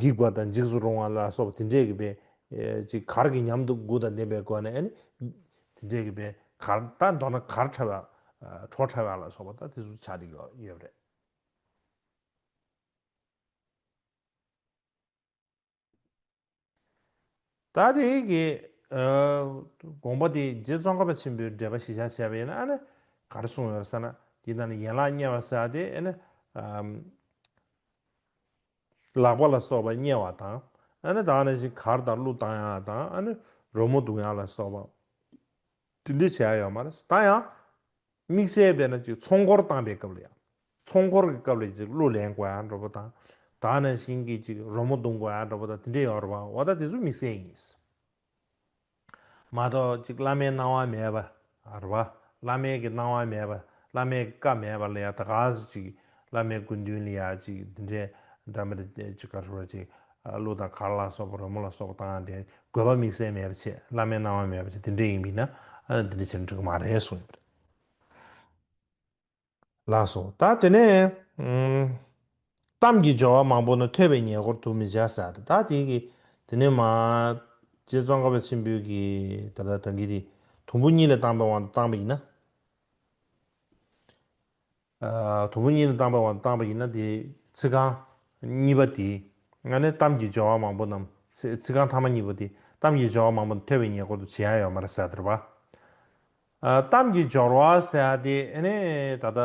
འགྱིག་པ་དང་འཇིགས་སུ་རུང་བ་ལ་སོགས་པ་དེ་འདྲས་ཀྱི་བའི། ཅིག་གར་གྱི་ཉམས་དུ་དགུ་དང་ལྡན་པའི་སྒོ་ནས་ནི། དེ་འདྲས་ཀྱི་བའི་གར་དང་མདོར་ན་གར་ཕྲལ་བ། གྲོགས་ཕྲལ་བ་ལ་སོགས་པ་དང་དེ་སུ་བྱ་དེ་ཡོད་པ་རེད། ད་དེ་གི་དགོངས་པ་དེ་རྗེ་ཙོང་ཁ་པ་ཆེན་པོའི་འགྲེལ་པ་གཞི་བཞག་བྱས་པ་ཡིན་ན་ཨ་ནི་ག་རེ་གསུངས་ཡོད་ས་ན་འདི་ན་ནི་ཡན་ལག་དམྱལ་བ་སེལ་བ་དེ་ཨ་ནི་ལག་པ་ལ་སོགས་པ་དམྱལ་བ་དང་ཨ་ནི་དང་ནི་བཞིན་གར་དང་གླུ་དང་ཡང་དང་ཨ་ནི་རོལ་མོ་དུང་ཡང་ལ་སོགས་པ་དེ་འདི་བྱས་ཡོད་མ་རེད་ད་ཡང་དམིགས་བསལ་དེ་ནི་གཅིག་ཚོང་འཁོར་བཏང་པའི་སྐབས་ལ་ཡང། ཚོང་འཁོར་གྱི་སྐབས་ལ་གཅིག་གླུ་ལེན་དགོས་ཡག་འགྲོ་པོ་དང། ད་ནི་བཞིན་གྱིས་གཅིག་རོལ་མོ་བརྡུང་དགོས་ཡག་འགྲོ་པོ་དང་དེ་འདྲའི་ཡོང་རེ་བ་འོ་ད་དེ་ཚོ་དམིགས་བསལ་ཡིན། མ་གཏོགས་གཅིག་བླ་མའི་སྣང་བ་མེད་པ་རེ་བ། བླ་མའི་གི་སྣང་བ་མེད་པ་བླ་མའི་གི་བཀའ་མེད་པ་ལ་ཡང་ད་ག་ཟེ་གཅིག་བླ་མའི་སྐུ་མདུན་ལ་ཡང་གཅིག་དེ་འདྲའི་འདྲ་མི་རེ་གཅིག་ག་རེ་བ་གཅིག་གླུ་དང་གར་ལ་སོགས་པ་རོལ་མོ་ལ་སོགས་པ་བཏང་སྟེ་དགོས་པ་དམིགས་བསལ་མེད་པ་ཆེད་བླ་མའི་གནང་བ་མེད་པ་ཆེད་འདི་འདྲའི་ཡིན་པས་ན་འདི་འདྲའི་ཆེད་འགྲོ་གི་མ་རེད་གསུངས་ཡོད་པ་རེད། ལགས་སོ། ད་དེ་ནས། གཏམ་གྱི་སྦྱོར་བ་མང་པོ་ནི་ཐོས་པའི་ཉེ་འཁོར་དུ་མི་བྱ་ས་རེད་ད་དེ་གི་དེ་ནས་མ། རྗེ་ཙོང་ཁ་པ་ཆེན་པོས་གི་ད་ལྟ་དང་གི་དེ་དུམ་བུ་གཉིས་ལ་བཏང་པའི་དབང་དུ་བཏང་པ་ཡིན་ན། དང་པོ་གཉིས་ནི་བཏང་བ་དང་བཏང་བ་ཡིན་ན་དེའི་ཚིག་རྐང་གཉིས་པ་དེའི་སྔ་ནས་གཏམ་གྱི་སྦྱོར་བ་མང་པོ་རྣམས་ཚིག་རྐང་ཐ་མ་གཉིས་པོ་དེ་གཏམ་གྱི་སྦྱོར་བ་མང་པོ་དང་ཐོས་པའི་ཉེ་འཁོར་དུ་ཇི་ཡང་ཡོད་མ་རེད་ཟེར་བརྡར་བ། གཏམ་གྱི་སྦྱོར་བ་ཟེར་དེ་ནི་ད་ལྟ་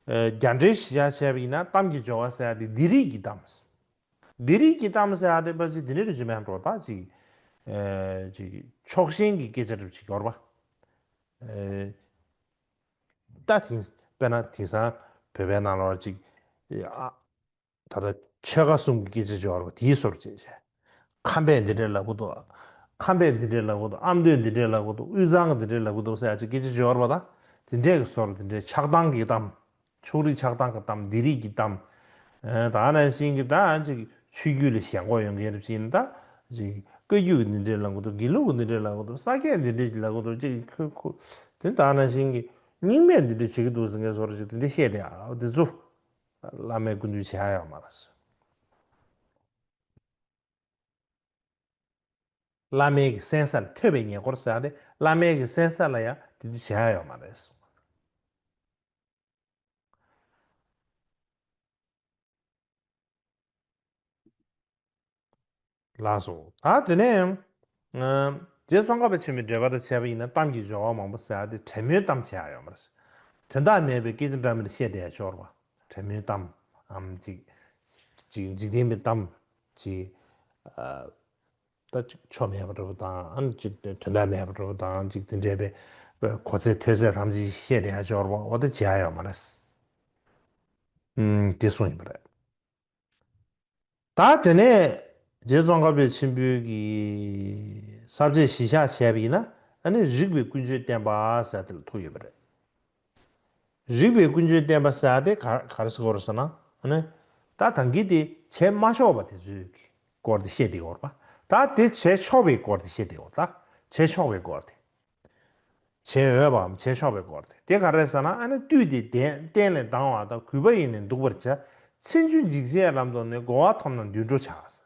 རྒྱ་འགྲེལ་བཞི་ཆ་བྱས་པ་ཡིན་ན་གཏམ་གྱི་སྦྱོར་བ་ཟེར་དེ་འདི་རིགས་ཀྱི་གཏམ། འདི་རིགས་ཀྱི་གཏམ་ཟེར་དེ་པ་ཅིག་དེ་ནི་རེ་ཞིག་མན་གྲོགས་དག་ཅིག་ཅིག་ཕྱོགས་ཞེན་གྱི་སྐད་ཆ་སྒྲུབ་བྱེད་སྐྱོར་བ། ད་དེང་དཔེར་ན་དེང་སང་བོད་པའི་ནང་ལ་བར་ཅིག། ད་ལྟ་ཆོལ་ཁ་གསུམ་གྱི་སྐད་ཆ་བྱེད་བར་བ་དེའི་སོར་བཅད་བྱས། ཁམས་པས་འདི་འདྲའི་ལབ་གི་འདུག། ཁམས་པས་འདི་འདྲའི་ལབ་གི་འདུག་ཨ་མདོས་འདི་འདྲའི་ལབ་གི་འདུག་དབུས་གཙང་གི་འདི་འདྲའི་ལབ་གི་འདུག་སེ་ཨ་ཅེ་སྐད་ཆ་བྱེད་བར་བ་དང་དེ་འདྲས་ཀྱི་སོར་དེ་འདྲའི་ཆགས་སྡང་གི་གཏམ། ཕྱོགས་རིས་ཆགས་སྡང་གི་གཏམ་འདི་རིགས་ཀྱི་གཏམ། ད་ནས་བཞིན་གྱི་ད་ཅིག་ཆོས་བརྒྱུད་ལ་ཞེན་ཁོག་ཡོང་མཁན་རིགས་ཅན་དག་ཅིག་བཀའ་བརྒྱུད་ཀྱི་འདི་འདྲའི་ལ་མགོ་འདོགས་དགེ་ལུགས་ཀྱི་འདི་འདྲའི་ལ་མགོ་འདོགས་ས་སྐྱའི་འདི་འདྲའི་ལ་མགོ་འདོགས་ཅེས་ཀྱི་ཁོས་ཁུ་དེ་དག་ནང་བཞིན་གྱི་རྙིང་མས་འདི་འདྲ་བྱེད་ཀྱི་འདུག་ཟེར་མཁན་སོགས་རེ་ཅིག་དེ་འདྲ་བཤད་དེ་ཨ་འོ་དེ་ཚོ་བླ་མའི་སྐུ་མདུན་བྱས་ཡོད་མ་རེད། བླ་མའི་གི་གསན་ས་ལ་ཐོད་པའི་ཉེ་འཁོར་ཟེར་ཡང་དེ་བླ་མའི་གི་གསན་ས་ལ་ཡང་དེ་འདྲ་བྱས་ཡོད་མ་རེད། ལགས་སོ། ད་དེ་ནས་ཡང། རྗེ་ཙོང་ཁ་པ་ཆེན་པོའི་འགྲེལ་པ་དང་བྱས་པ་ཡིན་ན་གཏམ་གྱི་སྦྱོར་བ་མང་པོ་ཟེར་བ་དེ་བྲེ་མོའི་གཏམ་བྱས་ཡོད་མ་རེད། དོན་དག་མེད་པའི་སྐད་ཅིག་འདྲ་མིན་བཤད་བསྡད་ཤོར་བ། བྲེ་མོའི་གཏམ། འཇིག་རྟེན་པའི་གཏམ། ཅེས། ད་ཅིག་ཆོ་མེད་པར་གྲུབ་པ་དང་ཅིག་དོན་དམ་མེད་པར་གྲུབ་པ་དང་ཅིག་དེ་འདྲེས་པའི་གོ་ཚད་ཐོས་ཚད་ལྷམ་ཅིག་ཤེས་བདེ་ཡང་སྦྱོར་བ་འོ་ད་ཅིག་ཡག་ཡོད་མ་རེད། འདི་གསུངས་ཡིན་པ་རེད། ད་དེ་ནས་རྗེ་ཙོང་ཁ་པས་ཆེན་པོའི་གི་ཟབ་ཆས་གཞི་བཞག་བྱས་པ་ཡིན་ན་ནི་རིགས་པའི་ཀུན་སྤྱོད་བསྟན་པ་ཟེར་དེ་ལ་ཐུག་ཡོད་པ་རེད། རིགས་པའི་ཀུན་སྤྱོད་བསྟན་པ་སྲ་དེ་གར་སི་གོར་སི་ན་ནི། ད་དང་གི་དེ་བྱས་མ་ཆོག་པ་དེ་ཚོའི་གི་སྐོར་དེ་བཤད་དེ་གོར་པ་ད་དེ་བྱས་ཆོག་པའི་སྐོར་དེ་བཤད་དེ་གོར་ད་བྱས་ཆོག་པའི་སྐོར་དེ། བྱས་འོས་པའམ་བྱས་ཆོག་པའི་སྐོར་དེ་དེ་ག་རེ་ཟ་ན་ཨ་ནི་བཏུས་ཏེ་དེ་གཏན་ནས་ལྡང་བ་ད་གུས་པ་ཡིན་ནས་འདུག་པར་བྱ། ཚིག་མཇུག་འཇིགས་བྱེད་ལམ་དུ་ནི་གོ་བ་ཐོབ་ན་འདུས་འགྲོ་བྱ་སྲིད།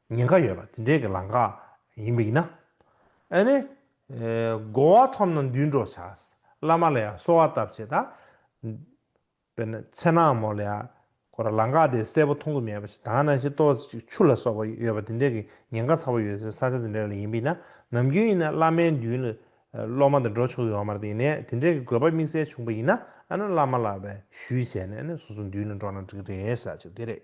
ཉེན་ཁ་ཡོད་པ་དེ་འདྲའི་གི་ལང་ཀ་ཡིན་པ་ཡིན་ན། ཨེ་ནི། དགོ་བ་ཐོབ་ན་འདུལ་འགྲོ་བྱ། བླ་མ་ལ་ཡང་གསོལ་བ་བཏབ་བྱས་ད། པེ་ན་ཚེ་ནག་མོ་ལ་ཡང་ཁོ་ར་ལང་ཀ་དེ་གསལ་པོ་མཐོང་གི་མེད་པ་ཞིག་དང་ན་ཤི་ཏོ་ཅིག་ཆུ་ལ་སོགས་པ་ཡོད་པ་དེ་འདྲའི་གི་ཉེན་ཁ་ཚ་བོ་ཡོད་སའི་ས་ཆ་དེ་འདྲའི་ལ་ཡིན་པ་ཡིན་ན་ནམ་རྒྱུན་ཡིན་ན་བླ་མའི་མདུན་ལ་སློབ་མ་དེ་འགྲོ་ཆོག་གི་ཡོང་མར་དེ་ཡིན་ནས་དེ་འདྲའི་གི་དགོས་པ་དམིགས་བསལ་བྱུང་པ་ཡིན་ན་ཨ་ན་བླ་མ་ལ་བས་ཞུས་བྱས་ནས་ཨེ་ནི་སོ་སོ་མདུན་ལ་འགྲོ་ན་འགྲིག་རེད་ས་ཆ་དེ་རེད།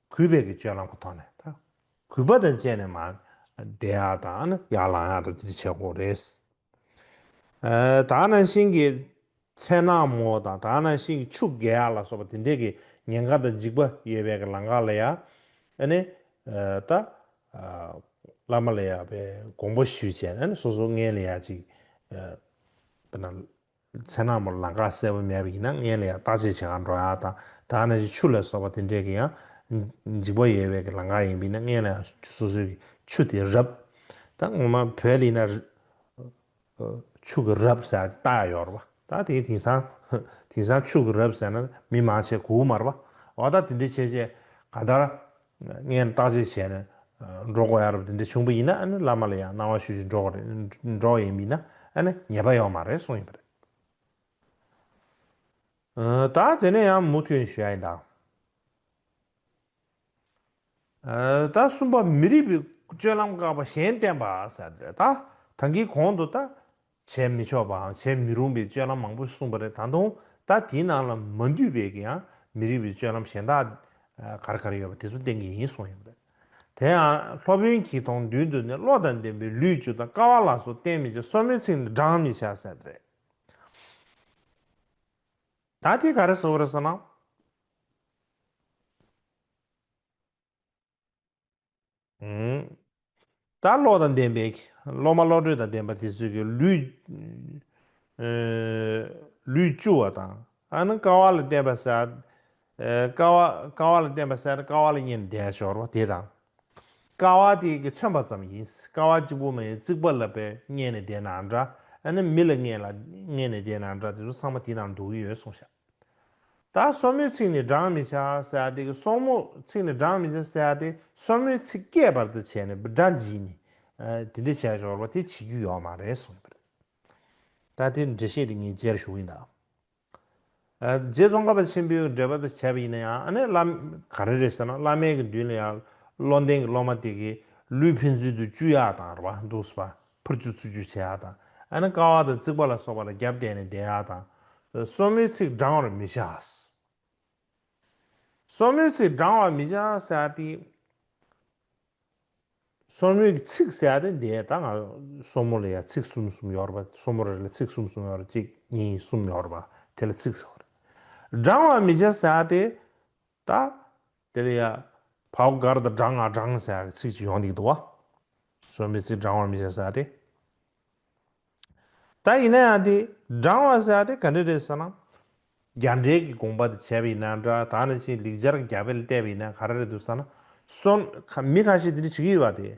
གུས་པས་ཀྱི་སྤྱོད་ལམ་གྱི་ཐོག་ནས་དང། གུས་པ་དང་བཅས་ནས་མ། བདེ་ཡག་དང་ཡར་ལངས་ཡག་དང་འདི་འདྲ་བྱེད་དགོས་རེད། དག་སྣང་ཤིང་གི་ཚལ་ནག་མོ་དང་དག་སྣང་ཤིང་གི་ཕྱུགས་རྒྱལ་ཡག་ལ་སོགས་པ་དེ་འདྲས་ཀྱི་ཉེན་ཁ་དང་འཇིགས་པ་ཡོད་པའི་ཀྱི་ལང་ཀ་ལ་ཡག་ནི། ད། བླ་མ་ལ་ཡག་པའི་དགོངས་པ་ཞུས་བྱས་ནས་སོ་སོ་ངན་ལ་ཡག་ཅིག། ཚེ་ནག་མོར་ལང་ཀ་གསལ་པོ་མེད་པ་ཡིན་ན་མངལ་ལ་ཡང་བརྟག་དཔྱད་བྱེད་ཁར་འགྲོ་ཡག་དང་སྦྲགས་ན་ཆུ་ཆུ་ལ་སོགས་པ་དེ་འདྲས་ཀྱི་ཡང་འཇིགས་པ་ཡོད་བས་ཀྱི་ལང་ཀ་ཡིན་པ་ཡིན་ན་མངལ་ལ་ཡང་སོ་སོའི་ཀྱི་ཆུ་དེ་རབ། ད་ངོ་མ་བོད་ལ་ཡིན་ན་ཆུ་ཀྱི་རབ་ཟེར་ཏེ་རྟགས་ཡོད་རེད་པ་ད་དེ་དེང་སང་དེང་སང་ཆུ་ཀྱི་རབ་ཟེར་ན་མི་མང་ཆེ་གོ་དབུ་མར་པ་འོ་ད་དེ་འདྲས་བྱས་བྱས་ག་ད་ངས་བརྟག་དཔྱད་བྱས་ནས་འགྲོ་དགོས་ཡ་རབས་དེ་འདྲ་བྱུང་བ་ཡིན་ན་བླ་མ་ལ་ཡང་གནང་བ་ཞུ་ཞིག་འགྲོ་འགྲོ་ཡས་མིན་ན་ཉེས་པ་ཡོད་མ་རེད་གསུངས་ཡོད་པ་རེད། ད་དེ་ནས་ཡང་མུ་མཐུད་ཞུ་ཡ་ཡིན་ད། ད་གསུམ་པ་མི་རིགས་པའི་སྤྱོད་ལམ་བཀག་པ་གཞན་བསྟན་པ་ཟེར་བ་དེ་རེད་ད། ད་གིས་གོང་དུ་ད། བྱས་མི་ཆོག་པའང་བྱས་མི་རུང་པའི་སྤྱོད་ལམ་མང་པོ་གསུངས་པ་རེད་ད་དུང་ད་དེའི་ནང་ལ་མ་འདུས་པའི་གི་ཡང་མི་རིགས་པའི་སྤྱོད་ལམ་གཞན་དག་གར་གར་ཡོད་པ་དེ་ཚོ་བསྟན་གི་ཡིན་གསུངས་ཡོད་པ་རེད། དེ་ཡང་སློབ་དཔོན་གྱིས་དང་མདུན་དུ་ནི་བློ་དང་ལྡན་པའི་ལུས་བཅུ་དང་ཀ་བ་ལ་སོགས་བསྟན་མི་བྱ་སོར་མོའི་ཚིག་ནི་བགྲང་མི་བྱ་ཟེར་བ་རེད། ད་དེ་ག་རེ་ཟེར་བ་རེད་ཟེར་ན། ད་བློ་དང་ལྡན་པའི། སློབ་མ་བློ་གྲོས་དང་ལྡན་པ་དེ་ཚོས་ཀྱི་ལུས། ལུས་བཅུ་བ་དང། ཨ་ནི་ཀ་བ་ལ་བརྟེན་པ་སེ། ཀ་བ་ཀ་བ་ལ་བརྟེན་པ་སེ་ནི་ཀ་བ་ལ་གཉིས་ནི་བརྡའི་སྦྱོར་བ་དེ་དང། ཀ་བ་དེ་ཀྱི་མཚོན་པ་ཙམ་ཡིན། ཀ་བ་གཅིག་པུ་མ་ཡིན་རྩིག་པ་ལ་པའི་མངལ་ནས་བརྡའི་ནང་འདྲ། ཨ་ནི་མི་ལ་མངལ་ལ་མངལ་ནས་བརྡའི་ནང་འདྲ་དེ་ཚོ་ཚང་མ་དེ་ནང་འདུག་གི་ཡོད་གསུངས་བཞག། ད་སོར་མོའི་ཚིག་ནི་བགྲང་མི་བྱ་ཟེར་ཡ་དེ་སོར་མོ་ཚིག་ནི་བགྲང་མི་བྱ་ཟེར་ཡ་དེ་སོར་མོའི་ཚིག་སྐྱེས་པར་དུ་བྱས་ནས་སྒྲ་འབྱིན་ནི། དེ་འདྲ་བྱས་ཞོར་བ་དེ་བྱེད་རྒྱུ་ཡོག་མ་རེད་གསུངས་པར། ད་དེ་འགྲེལ་བཤད་དེ་ངས་བརྗེད་ར་ཞུ་གི་འདག། རྗེ་ཙོང་ཁ་པ་ཆེན་པོའི་འགྲེལ་པ་དང་བྱས་པ་ཡིན་ན་ཡང་ཨ་ནས་ག་རེ་རེད་ཟེར་ན་བླ་མའི་གི་མདུན་ལ་ཡང་བློ་ལྡན་གི་སློབ་མ་དེ་གི་ལུས་ཕན་ཚུན་དུ་བཅུ་ཡག་དང་ར་བ་འདུག་ཟེར་བ་ཕུར་ཆུ་འཚུད་རྒྱུ་བྱེད་ཨ་དང་ཨ་ནི་ཀ་བ་དང་རྩིག་པ་ལ་སོགས་པ་ལ་རྒྱབ་བསྟན་ནས་བསྡད་ཨ་དང། སོར་མོའི་ཚིགས་འབྲང་བར་མི་བྱ། སོར་མོའི་ཚིགས་འབྲང་བར་མི་བྱ་སེ་ཨ་སྟེ། སོར་མོའི་གི་ཚིགས་སེ་ཨ་སྟེ་འདས་ད་ང་སོར་མོ་ལ་ཡང་ཚིགས་གསུམ་གསུམ་ཡོར་བ་སོར་མོ་རེ་ལ་ཚིགས་གསུམ་གསུམ་ཡོར་གཅིག་གཉིས་གསུམ་ཡོར་བ་དེ་ལ་ཚིགས་སོར་འབྲང་བར་མི་བྱ་སེ་ཨ་སྟེ། ད། དེ་ལ་ཡ། བྷའོ་དཀར་དང་སྦྲང་ཨ་སྦྲང་ཟེར་བའི་ཚིག་ཅིག་ཡོང་འདུག་འདུག་བ། གསོན་པའི་ཚིག་སྦྲང་བར་མི་བྱ་ཟེར་བ་དེ། ད་ཡིན་ན་ཡང་དེ། སྦྲང་བ་ཟེར་བ་དེ་ག་འདྲས་རེད་ཟེར་ན། རྒྱ་འགྲེལ་གྱི་དགོངས་པ་དེ་བྱས་པ་ཡིན་ན་འདྲ་ད་ནི་ཕྱིའི་ལེགས་སྦྱར་གྱི་རྒྱ་དཔེ་ལ་བལྟས་པ་ཡིན་ན་ག་རེ་རེད་འདུག་ཟེར་ན། གསོན། མི་ཁ་ཤས་དེ་འདྲས་བྱེད་ཀྱི་ཡོད་བ་དེ།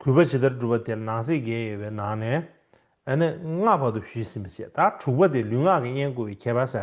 གུས་པ་ཇི་ལྟར་བསྒྲུབ་པ་དེར་ནང་གསེས་བརྒྱད་ཡོད་པའི་ནང་ནས། ཨ་ནི་ལྔ་བར་དུ་བཞུད་ཟིན་པ་བྱས། ད་དྲུག་པ་དེ་ལུས་ངག་གི་དབྱེན་བཀོད་པའི་ཁྱད་པར་ཟད།